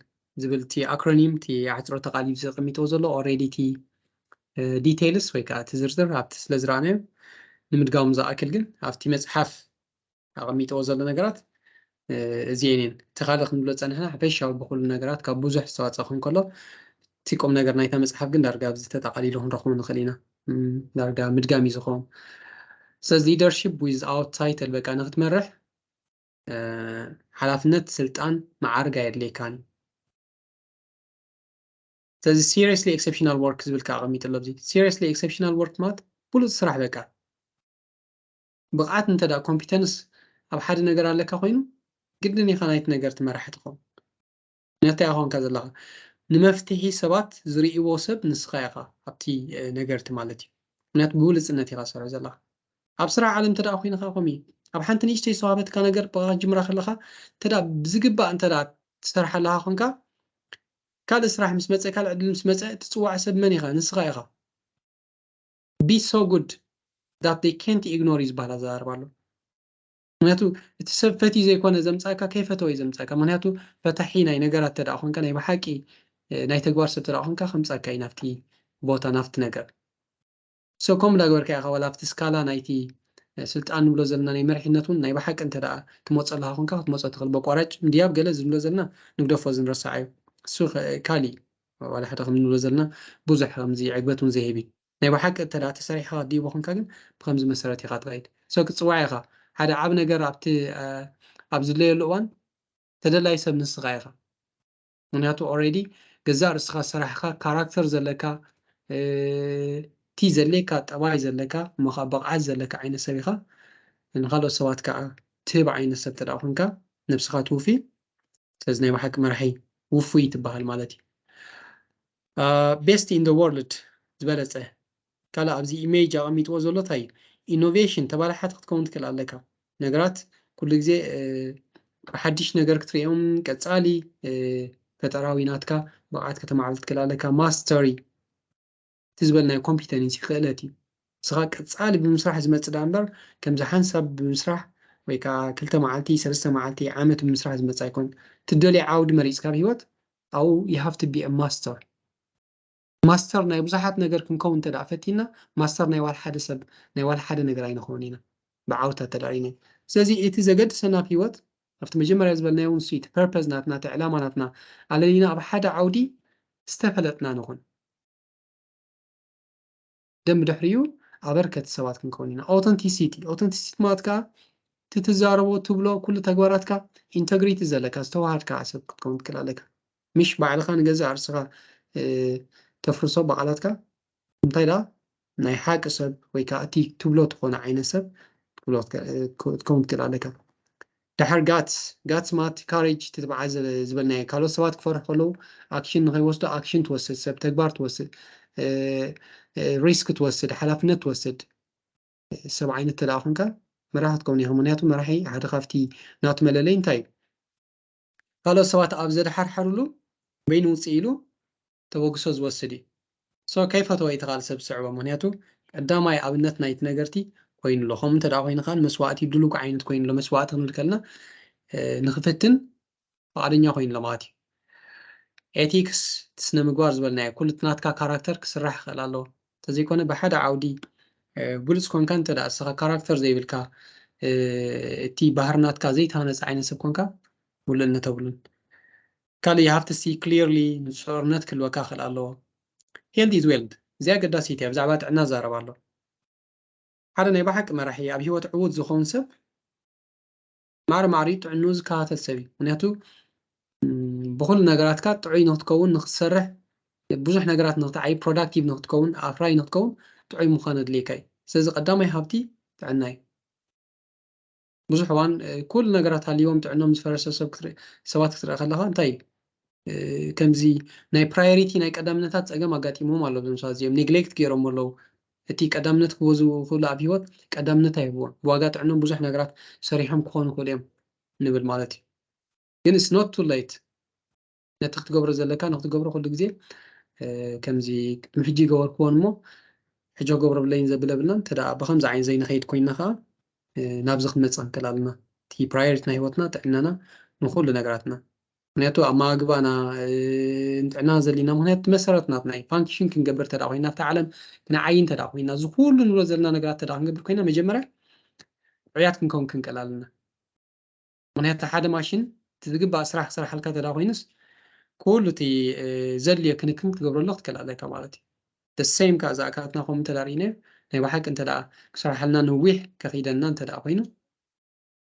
ዝብል እቲ ኣክሮኒም እቲ ኣሕፅሮተ ቃል እዩ ዘቐሚጥዎ ዘሎ ኦልሬዲ እቲ ዲቴይልስ ወይ ከዓ እቲ ዝርዝር ኣብቲ ስለ ዝረኣናዮ ንምድጋሙ ዝኣክል ግን ኣብቲ መፅሓፍ ኣቐሚጥዎ ዘሎ ነገራት እዚኤን እየን እቲ ካልእ ክንብሎ ፀንሕና ሓፈሻዊ ብኩሉ ነገራት ካብ ብዙሕ ዝተዋፀ ክኸውን ከሎ እቲ ቁም ነገር ናይታ መፅሓፍ ግን ዳርጋ ኣብዚ ተጠቓሊሉ ክንረኽቦ ንኽእል ኢና ዳርጋ ምድጋም እዩ ዝኸውን ስለዚ ሊደርሺፕ ዊዝኣውት ታይትል በቃ ንክትመርሕ ሓላፍነት ስልጣን መዓርግ ኣየድልየካን ስለዚ ሲሪየስሊ ኤክሰፕሽናል ወርክ ዝብል ከዓ ኣቐሚጡ ኣሎ ዚ ሲሪየስሊ ኤክሰፕሽናል ወርክ ማለት ብሉፅ ስራሕ በቃ ብቕዓት እንተ ኮምፒተንስ ኣብ ሓደ ነገር ኣለካ ኮይኑ ግድን ኢኻ ናይቲ ነገር ትመራሒ ትኸውን ነታ ኾንካ ዘለኻ ንመፍትሒ ሰባት ዝርእይዎ ሰብ ንስኻ ኢኻ ኣብቲ ነገርቲ ማለት እዩ ምክንያቱ ብብሉጽነት ኢኻ ትሰርሕ ዘለኻ ኣብ ስራሕ ዓለም እንተ ኮይንኻ ከምኡ እዩ ኣብ ሓንቲ ንእሽተይ ዝተዋህበትካ ነገር ብቃ ክትጅምራ ከለኻ እንተ ብዝግባእ እንተ ትሰርሓ ኣለኻ ኮንካ ካልእ ስራሕ ምስ መፀ ካልእ ዕድል ምስ መፀ ትፅዋዕ ሰብ መን ኢኻ ንስኻ ኢኻ ቢ ሶ ጉድ ዳት ዴይ ኬንት ኢግኖር እዩ ዝበሃል ኣዘራርባ ኣሎ ምክንያቱ እቲ ሰብ ፈትዩ ዘይኮነ ዘምጻእካ ከይፈተወ እዩ ዘምጻእካ ምክንያቱ ፈታሒ ናይ ነገራት ተደኣ ኮንካ ናይ ብሓቂ ናይ ተግባር ሰብ ተደኣ ኮንካ ከምጻካ እዩ ናብቲ ቦታ ናብቲ ነገር so ከምኡ እንዳገበርካ ኢካ ዋላ ኣብቲ ስካላ ናይቲ ስልጣን ንብሎ ዘለና ናይ መሪሕነት እውን ናይ ብሓቂ እንተደኣ ትመጸለካ ኮንካ ክትመጾ ትክእል በቋራጭ ምድያብ ገለ እዚ ንብሎ ዘለና ንግደፎ እዚ ንረሳዓዮ እሱ ካሊእ ዋላ ሓደ ከም ንብሎ ዘለና ብዙሕ ከምዚ ዕግበት እውን ዘይህብ እዩ ናይ ብሓቂ እተ ተሰሪሕኻ ዲቦ ኮንካ ግን ብከምዚ መሰረት ኢኻ ትኸይድ ሰብ ክትፅዋዕ ኢኻ ሓደ ዓብ ነገር ኣብቲ ኣብ ዝድለየሉ እዋን ተደላይ ሰብ ንስኻ ኢኻ ምክንያቱ ኦረዲ ገዛእ ርስኻ ሰራሕኻ ካራክተር ዘለካ እቲ ዘድልየካ ጠባይ ዘለካ እሞ ከዓ ብቕዓት ዘለካ ዓይነት ሰብ ኢኻ ንካልኦት ሰባት ከዓ ትህብ ዓይነት ሰብ ተደኣ ኮንካ ነብስኻ ትውፊ ስለዚ ናይ ብሓቂ መራሒ ውፉይ ትበሃል ማለት እዩ ቤስት ኢን ዘ ዎርልድ ዝበለጸ ካልእ ኣብዚ ኢሜጅ ኣቐሚጥዎ ዘሎ ታይ እዩ ኢኖቬሽን ተባላሓቲ ክትከውን ትክእል ኣለካ ነገራት ኩሉ ግዜ ብሓድሽ ነገር ክትርእዮም ቀጻሊ ፈጠራዊ ናትካ ብቕዓት ከተማዕብል ትክእል ኣለካ ማስተሪ እቲ ዝበልናዮ ኮምፒተንሲ ክእለት እዩ ንስኻ ቀጻሊ ብምስራሕ ዝመጽእ ዳኣ እምበር ከምዚ ሓንሳብ ብምስራሕ ወይ ከዓ ክልተ መዓልቲ ሰለስተ መዓልቲ ዓመት ብምስራሕ ዝመጽእ ኣይኮን ትደልዮ ዓውዲ መሪጽካ ኣብ ሂወት ኣብኡ you have to be a master ማስተር ናይ ብዙሓት ነገር ክንከውን እንተ ደኣ ፈቲና ማስተር ናይ ዋላ ሓደ ሰብ ናይ ዋላ ሓደ ነገር ኣይንኸውንን ኢና ብዓውታ እንተ ደኣ ርኢናዮ ስለዚ እቲ ዘገድሰና ኣብ ሂወት ኣብቲ መጀመርያ ዝበልናዮ እውን እሱ እዩ እቲ ፐርፐዝ ናትና እቲ ዕላማ ናትና ኣለሊና ኣብ ሓደ ዓውዲ ዝተፈለጥና ንኹን ደን ብድሕሪኡ ኣበርከቲ ሰባት ክንከውን ኢና። ኦተንቲሲቲ ኦተንቲሲቲ ማለት ከዓ እቲ ትዛረቦ ትብሎ ኩሉ ተግባራትካ ኢንተግሪቲ ዘለካ ዝተዋሃድካ ሰብ ክትከውን ትክእል ኣለካ ምሽ ባዕልካ ንገዛእ ርእስኻ ተፍርሶ ብቓላትካ እንታይ ደኣ ናይ ሓቂ ሰብ ወይ ከዓ እቲ ትብሎ ትኾነ ዓይነት ሰብ ክትከውን ትክእል ኣለካ ደሓር ጋትስ፣ ጋትስ ማለት ካሬጅ፣ ትትብዓት ዝበልናዮ፣ ካልኦት ሰባት ክፈርሑ ከለዉ ኣክሽን ንኸይወስዱ ኣክሽን ትወስድ፣ ሰብ ተግባር ትወስድ፣ ሪስክ ትወስድ፣ ሓላፍነት ትወስድ፣ ሰብ ዓይነት እንተደኣ ኮንካ መራሒ ክትከውን ኢኻ፣ ምኽንያቱ መራሒ ሓደ ካብቲ ናቱ መለለይ እንታይ እዩ ካልኦት ሰባት ኣብ ዘድሓርሓርሉ በይኑ ውጽእ ኢሉ ተበግሶ ዝወስድ እዩ so ከይፈተወ እቲ ካልእ ሰብ ዝስዕቦ ምክንያቱ ቀዳማይ ኣብነት ናይቲ ነገርቲ ኮይኑ ኣሎ ከምኡ እንተ ኮይኑ ከኣ ንመስዋእቲ ድሉው ዓይነት ኮይኑ ኣሎ መስዋእቲ ክንብል ከለና ንክፍትን ፍቃደኛ ኮይኑ ኣሎ ማለት እዩ ኤቲክስ እቲ ስነ ምግባር ዝበልናዮ ኩሉ እቲ ናትካ ካራክተር ክስራሕ ይኽእል ኣለዎ እንተዘይኮነ ብሓደ ዓውዲ ብሉፅ ኮንካ እንተ እስኻ ካራክተር ዘይብልካ እቲ ባህሪ ናትካ ዘይተሃነፀ ዓይነት ሰብ ኮንካ ውልእነት ተብሉን ካልእ you have to see clearly ንጹርነት ክህልወካ ክኽእል ኣለዎ health is wealth እዚኣ ኣገዳሲት እያ ብዛዕባ ጥዕና ዝዛረብ ኣሎ ሓደ ናይ ብሓቂ መራሒ ኣብ ሂወት ዕዉት ዝኸውን ሰብ ማዕረ ማዕሪኡ ጥዕንኡ ዝከታተል ሰብ እዩ ምክንያቱ ብኩሉ ነገራትካ ጥዑይ ንክትከውን ንክትሰርሕ ብዙሕ ነገራት ንክትዓይ ፕሮዳክቲቭ ንክትከውን ኣፍራይ ንክትከውን ጥዑይ ምዃን ኣድልየካ እዩ ስለዚ ቀዳማይ ሃብቲ ጥዕና እዩ ብዙሕ እዋን ኩሉ ነገራት ሃልዎም ጥዕኖም ዝፈረሰ ሰባት ክትረአ ከለኻ እንታይ ከምዚ ናይ ፕራዮሪቲ ናይ ቀዳምነታት ፀገም ኣጋጢሞም ኣሎ እዞም ሰባት እዚኦም ኔግሌክት ገይሮም ኣለዉ እቲ ቀዳምነት ክበዙ ክብሉ ኣብ ሂወት ቀዳምነት ኣይህብዎም ብዋጋ ጥዕኖም ብዙሕ ነገራት ሰሪሖም ክኾኑ ክእሉ እዮም ንብል ማለት እዩ ግን ስኖት ቱ ሌት ነቲ ክትገብሮ ዘለካ ንክትገብሮ ኩሉ ግዜ ከምዚ ቅድሚ ሕጂ ይገበርክዎን እሞ ሕጂ ክገብሮ ብለይን ዘብል የብልናን እንተ ብከምዚ ዓይነት ዘይንኸይድ ኮይና ከዓ ናብዚ ክንመፅእ ክንክእል ኣለና እቲ ፕራዮሪቲ ናይ ሂወትና ጥዕናና ንኩሉ ነገራትና ምክንያቱ ኣመጋግባና ንጥዕና ዘለና ምክንያቱ መሰረት ናትና እዩ ፋንክሽን ክንገብር ተዳ ኮይና ኣብቲ ዓለም ክንዓይ እንተ ኮይና እዚ ኩሉ ንብሎ ዘለና ነገራት ተዳ ክንገብር ኮይና መጀመርያ ዕያት ክንከውን ክንክእል ኣለና ምክንያቱ እቲ ሓደ ማሽን እቲ ዝግባእ ስራሕ ክሰርሓልካ እንተ ኮይኑስ ኩሉ እቲ ዘድልዮ ክንክን ክትገብረሉ ክትክእል ኣለካ ማለት እዩ the same ከኣ እዛ ኣካላትና ከምኡ እንተ ርኢናዮ ናይ ብሓቂ እንተ ክሰርሓልና ንዊሕ ከኺደና እንተ ኮይኑ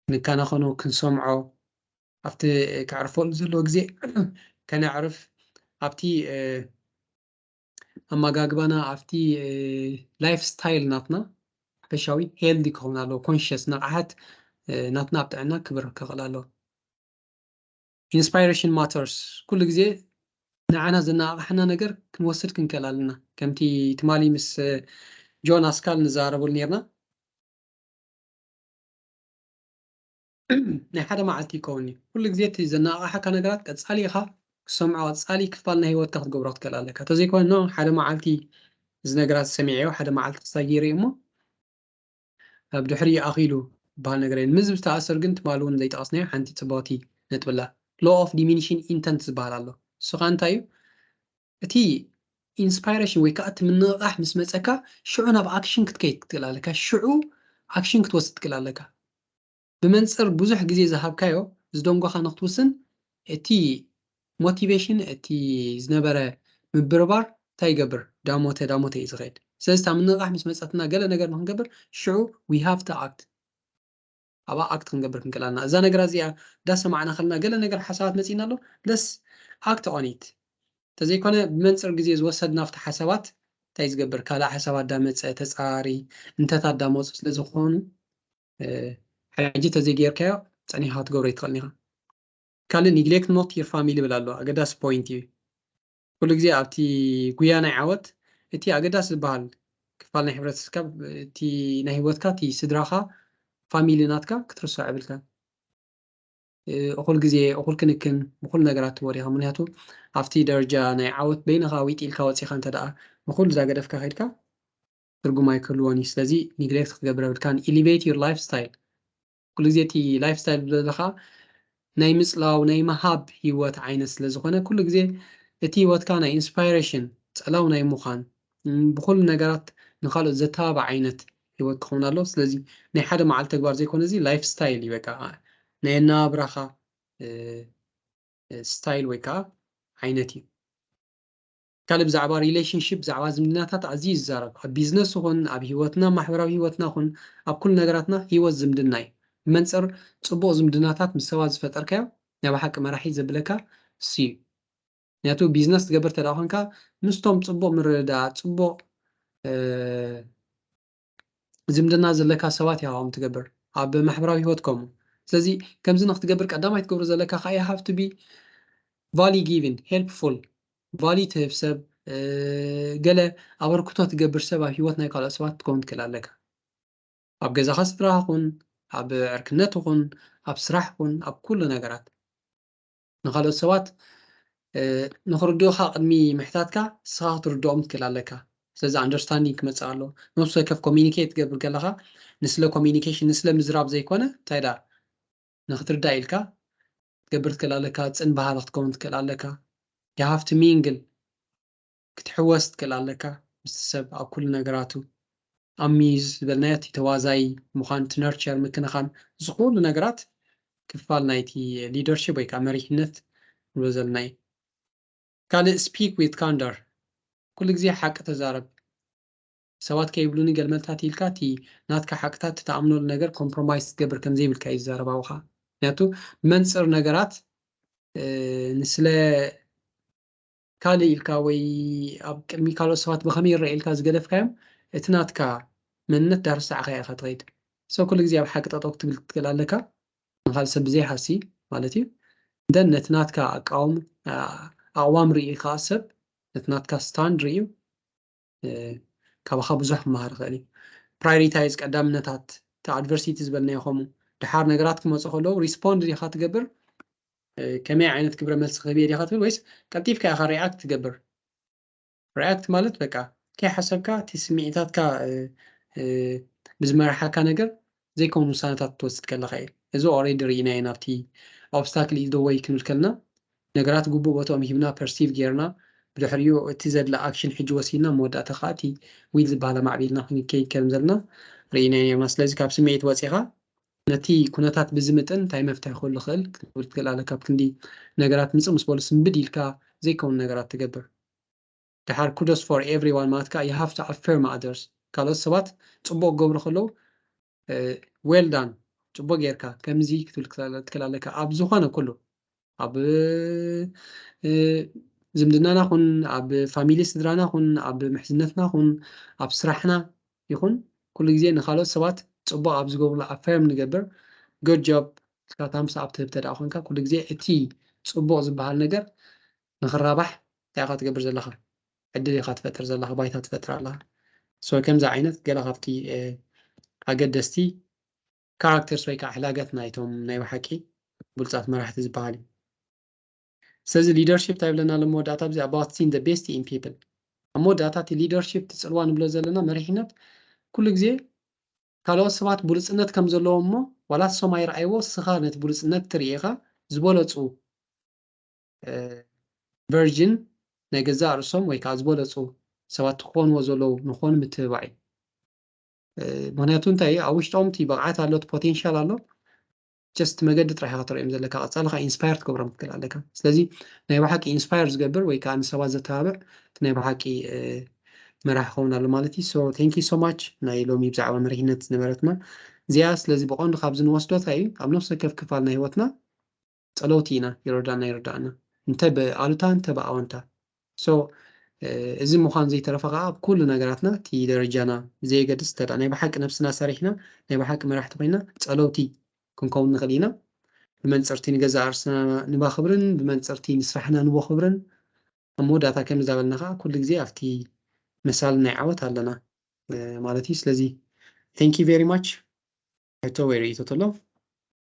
ክንከናኸኖ ክንሰምዖ ኣብቲ ከዕርፈሉ ዘለዎ ግዜ ከነዕርፍ ኣብቲ ኣመጋግባና ኣብቲ ላይፍ ስታይል ናትና ሓፈሻዊ ሄልዲ ክኸውን ኣለዎ ኮንሽስ ንቕሓት ናትና ኣብ ጥዕና ክብር ክኽእል ኣለዎ ኢንስፓይሬሽን ማተርስ ኩሉ ግዜ ንዓና ዘነቓቕሓና ነገር ክንወስድ ክንክእል ኣለና ከምቲ ትማሊ ምስ ጆን ኣስካል ንዛረበሉ ነርና ናይ ሓደ መዓልቲ ይከውን እዩ። ኩሉ ግዜ እቲ ዘነቓቕሓካ ነገራት ቀጻሊ ኢኻ ክትሰምዖ ቀጻሊ ክፋል ናይ ህይወትካ ክትገብሮ ክትክእል ኣለካ። ተዘይኮይኑ ን ሓደ መዓልቲ እዚ ነገራት ሰሚዐዮ ሓደ መዓልቲ ክስታይ ገይረ እየ እሞ ኣብ ድሕሪ ይኣኺሉ ዝበሃል ነገር የለን። ምዚ ዝተኣሰር ግን ትማሊ እውን ዘይጠቐስናዮ ሓንቲ ጽብቕቲ ነጥቢ ኣላ። Law of Diminishing Intent ዝበሃል ኣሎ። እሱ ከኣ እንታይ እዩ? እቲ ኢንስፓይረሽን ወይ ከኣ እቲ ምንቕቓሕ ምስ መጸካ ሽዑ ናብ ኣክሽን ክትከይድ ክትክእል ኣለካ፣ ሽዑ ኣክሽን ክትወስድ ትክእል ኣለካ። ብመንጽር ብዙሕ ግዜ ዝሃብካዮ ዝደንጎኻ ንክትውስን እቲ ሞቲቬሽን እቲ ዝነበረ ምብርባር እንታይ ይገብር ዳሞተ ዳሞተ እዩ ዝኸይድ። ስለዚ እታ ምንቕቓሕ ምስ መጸትና ገለ ነገር ንክንገብር ሽዑ we have to act። ኣብኣ ኣክት ክንገብር ክንክእል ኣለና እዛ ነገራት እዚኣ ዳሰማዕና ከለና ገለ ነገር ሓሳባት መጺእና ኣሎ ለስ ኣክት ኦን ኢት ተዘይኮነ ብመንጽር ግዜ ዝወሰድ ናብቲ ሓሳባት እንታይ ዝገብር ካልእ ሓሳባት ዳመጸ ተጻራሪ እንተታት ዳመጹ ስለ ዝኾኑ ሕጂ ተዘይጌርካዮ ጸኒሕካ ክትገብሮ ኣይትኽእልን ኢኻ ካልእ ኒግሌክት ኖት ዩር ፋሚሊ ይብል ኣሎ ኣገዳሲ ፖይንት እዩ ኩሉ ግዜ ኣብቲ ጉያ ናይ ዓወት እቲ ኣገዳሲ ዝበሃል ክፋል ናይ ሕብረተሰብካ እቲ ናይ ህይወትካ እቲ ስድራኻ ፋሚሊ ናትካ ክትርስዖ የብልካን። እኹል ግዜ እኹል ክንክን ንኹሉ ነገራት ትህቦ ዲኻ ምክንያቱ ኣብቲ ደረጃ ናይ ዓወት በይንኻ ዊጥ ኢልካ ወጺኻ እንተ ደኣ ንኹሉ ዛገደፍካ ከድካ ትርጉም ኣይክህልዎን እዩ ስለዚ ኒግሌክት ክትገብር የብልካን ኢሊቬት ዩር ላይፍ ስታይል ኩሉ ግዜ እቲ ላይፍ ስታይል ዘለካ ናይ ምጽላው ናይ ምሃብ ሂወት ዓይነት ስለ ዝኮነ ኩሉ ግዜ እቲ ሂወትካ ናይ ኢንስፓይረሽን ጸላው ናይ ምዃን ብኩሉ ነገራት ንካልኦት ዘተባብዕ ዓይነት ሂወት ክከውን ኣለዎ ስለዚ ናይ ሓደ መዓልቲ ተግባር ዘይኮነ እዚ ላይፍ ስታይል እዩ በቃ ናይ ኣነባብራካ ስታይል ወይ ከዓ ዓይነት እዩ። ካልእ ብዛዕባ ሪለሽንሺፕ ብዛዕባ ዝምድናታት ኣዝዩ እዩ ዝዛረብ ኣብ ቢዝነስ ይኹን ኣብ ሂወትና ማሕበራዊ ሂወትና ይኹን ኣብ ኩሉ ነገራትና ሂወት ዝምድና እዩ ብመንጽር ጽቡቕ ዝምድናታት ምስ ሰባት ዝፈጠርካዮ ናይ ብሓቂ መራሒ ዘብለካ እሱ'ዩ ምክንያቱ ቢዝነስ ትገብር እንተድኣ ኮንካ ምስቶም ጽቡቕ ምርድዳኣ ጽቡቕ ዝምድና ዘለካ ሰባት ኢኻ ከምኡ ትገብር ኣብ ማሕበራዊ ሂወት ከምኡ ስለዚ ከምዚ ንክትገብር ቀዳማይ ትገብሮ ዘለካ ከኣ you have to be value giving helpful value ትህብ ሰብ ገለ ኣበርክቶ ትገብር ሰብ ኣብ ሂወት ናይ ካልኦት ሰባት ክትከውን ትክእል ኣለካ ኣብ ገዛኻ ስድራኻ ኩን ኣብ ዕርክነት ይኹን ኣብ ስራሕ ኩን ኣብ ኩሉ ነገራት ንኻልኦት ሰባት ንኽርድኡኻ ቅድሚ ምሕታትካ ንስኻ ክትርድኦም ክትክእል ኣለካ። ስለዚ ኣንደርስታንዲንግ ክመጽእ ኣሎ። ነብሲ ወከፍ ኮሚኒኬት ትገብር ከለኻ ንስለ ኮሚኒኬሽን ንስለ ምዝራብ ዘይኮነ እንታይ ደኣ ንኽትርዳእ ኢልካ ክትገብር ትክእል ኣለካ። ጽን በሃሊ ክትከውን ትክእል ኣለካ። You have to mingle ክትሕወስ ትክእል ኣለካ ምስቲ ሰብ ኣብ ኩሉ ነገራቱ ኣብ ምይዝ ዝበልናዮ እቲ ተዋዛዪ ምዃን እቲ ነርቸር ምክንኻን እዚ ኩሉ ነገራት ክፋል ናይቲ ሊደርሺፕ ወይ ከኣ መሪሕነት ንብሎ ዘለና እዩ ካልእ ስፒክ ዊዝ ካንደር ኩሉ ግዜ ሓቂ ተዛረብ ሰባት ከይብሉኒ ገልመልታት ኢልካ እቲ ናትካ ሓቅታት እቲ ተኣምነሉ ነገር ኮምፕሮማይዝ ክትገብር ከም ዘይብልካ እዩ ዝዛረብ ኣብኻ ምክንያቱ ብመንጽር ነገራት ንስለ ካልእ ኢልካ ወይ ኣብ ቅድሚ ካልኦት ሰባት ብኸመይ ይረኣዩ ኢልካ ዝገደፍካዮም እቲ ናትካ መንነት ዳርሳዕካዮ ኢኻ ትኸይድ so ኩሉ ግዜ ኣብ ሓቂ ጠጠው ክትብል ክትክእል ኣለካ ንኻልእ ሰብ ብዘይ ሃሲ ማለት እዩ then ነቲ ናትካ ኣቃውም ኣቕዋም ሪኡ ከኣ ሰብ ነቲ ናትካ stand ሪኡ ካባኻ ብዙሕ ክመሃር ይኽእል እዩ ፕራዮሪታይዝ ቀዳምነታት እቲ ኣድቨርሲቲ ዝበልናዮ ከምኡ ድሓር ነገራት ክመፁ ከለዉ ሪስፖንድ ዲኻ ትገብር ከመይ ዓይነት ግብረ መልሲ ክህብ እየ ዲኻ ትብል ወይስ ቀልጢፍካ ኢኻ ሪኣክት ትገብር ሪኣክት ማለት በቃ ከይሓሰብካ እቲ ስምዒታትካ ብዝመርሓካ ነገር ዘይከውን ውሳነታት ክትወስድ ከለኻ እዩ። እዚ ኦሬዲ ርኢናዮ ናብቲ Obstacle is the way ክንብል ከለና ነገራት ግቡእ ቦትኦም ሂብና Perceive ጌርና ብድሕሪኡ እቲ ዘድሊ Action ሕጂ ወሲድና ኣብ መወዳእታ ከኣ እቲ Will ዝበሃል ኣማዕቢልና ክንከይድ ከምዘለና ርኢናዮ ኔርና ስለዚ ካብ ስምዒት ወጺኻ ነቲ ኩነታት ብዝምጥን እንታይ መፍትሒ ክህሉ ይኽእል ክትብል ትክእል ኣለካ ኣብ ክንዲ ነገራት ምጽእ ምስ በሉ ስንብድ ኢልካ ዘይከውን ነገራት ትገብር ደሓር Kudos for everyone ማለት ከኣ you have to affirm others ካልኦት ሰባት ጽቡቕ ክገብሩ ከለዉ well done ጽቡቕ ጌርካ ከምዚ ክትብል ክትክል ኣለካ ኣብ ዝኾነ ኩሉ ኣብ ዝምድናና ኹን ኣብ ፋሚሊ ስድራና ኹን ኣብ ምሕዝነትና ኹን ኣብ ስራሕና ይኹን ኩሉ ግዜ ንካልኦት ሰባት ጽቡቕ ኣብ ዝገብሩሉ ኣፈርም ንገብር good job እስካ ታምስ ኣብ ትህብ ተደኣ ኮንካ ኩሉ ግዜ እቲ ጽቡቕ ዝበሃል ነገር ንክራባሕ እንታይ ኢካ ትገብር ዘለካ ዕድል ኢካ ትፈጥር ዘለካ ባይታ ትፈጥር ኣለካ so ከምዚ ዓይነት ገለ ካብቲ ኣገደስቲ ካራክተርስ ወይ ከዓ ሕላገት ናይቶም ናይ ብሓቂ ብሉፃት መራሕቲ ዝበሃል እዩ ስለዚ ሊደርሽፕ እንታይ ብለና ኣሎ መወዳእታ ብዚ ኣባት ሲን ዘ ቤስት ኢን ፒፕል ኣብ መወዳእታ እቲ ሊደርሽፕ እቲ ፅልዋ ንብሎ ዘለና መሪሕነት ኩሉ ግዜ ካልኦት ሰባት ብሉፅነት ከም ዘለዎ እሞ ዋላ ንሶም ኣይረኣይዎ ስኻ ነቲ ብሉፅነት ትርኢኻ ዝበለፁ ቨርጅን ናይ ገዛእ ርእሶም ወይ ከዓ ዝበለፁ ሰባት ክኾንዎ ዘለዉ ንኾኑ ምትብባዕ እዩ ምክንያቱ እንታይ ኣብ ውሽጦም እቲ ብቕዓት ኣሎ እቲ ፖቴንሻል ኣሎ ጀስት መገዲ ጥራሕ ኢኻ ትርእዮም ዘለካ ቀፃሊ ከዓ ኢንስፓየር ትገብሮም ክትክእል ኣለካ ስለዚ ናይ ብሓቂ ኢንስፓየር ዝገብር ወይ ከዓ ንሰባት ዘተባብዕ ናይ ብሓቂ መራሕ ክኸውን ኣሎ ማለት እዩ ሶ ቴንክ ዩ ሶ ማች ናይ ሎሚ ብዛዕባ መሪሕነት ዝነበረትና እዚኣ ስለዚ ብቐንዱ ካብዚ ንወስዶ እንታይ እዩ ኣብ ነፍሲ ወከፍ ክፋል ናይ ህይወትና ጸለውቲ ኢና ይረዳና ይርዳኣና እንተ ብኣሉታ እንተ ብኣወንታ so እዚ ምዃኑ ዘይተረፈ ከኣ ኣብ ኩሉ ነገራትና እቲ ደረጃና ብዘየገድስ እንተ ናይ ብሓቂ ነብስና ሰሪሕና ናይ ብሓቂ መራሕቲ ኮይና ጸለውቲ ክንከውን ንኽእል ኢና ብመንጽርቲ ንገዛእ ርእስና ንባኽብርን ብመንጽርቲ ንስራሕና ንቦኽብርን ኣብ መወዳእታ ከምዚ ዳበልና ከኣ ኩሉ ግዜ ኣብቲ መሳሊ ናይ ዓወት ኣለና ማለት እዩ ስለዚ thank you very much ሕቶ ወይ ርእይቶ ተሎ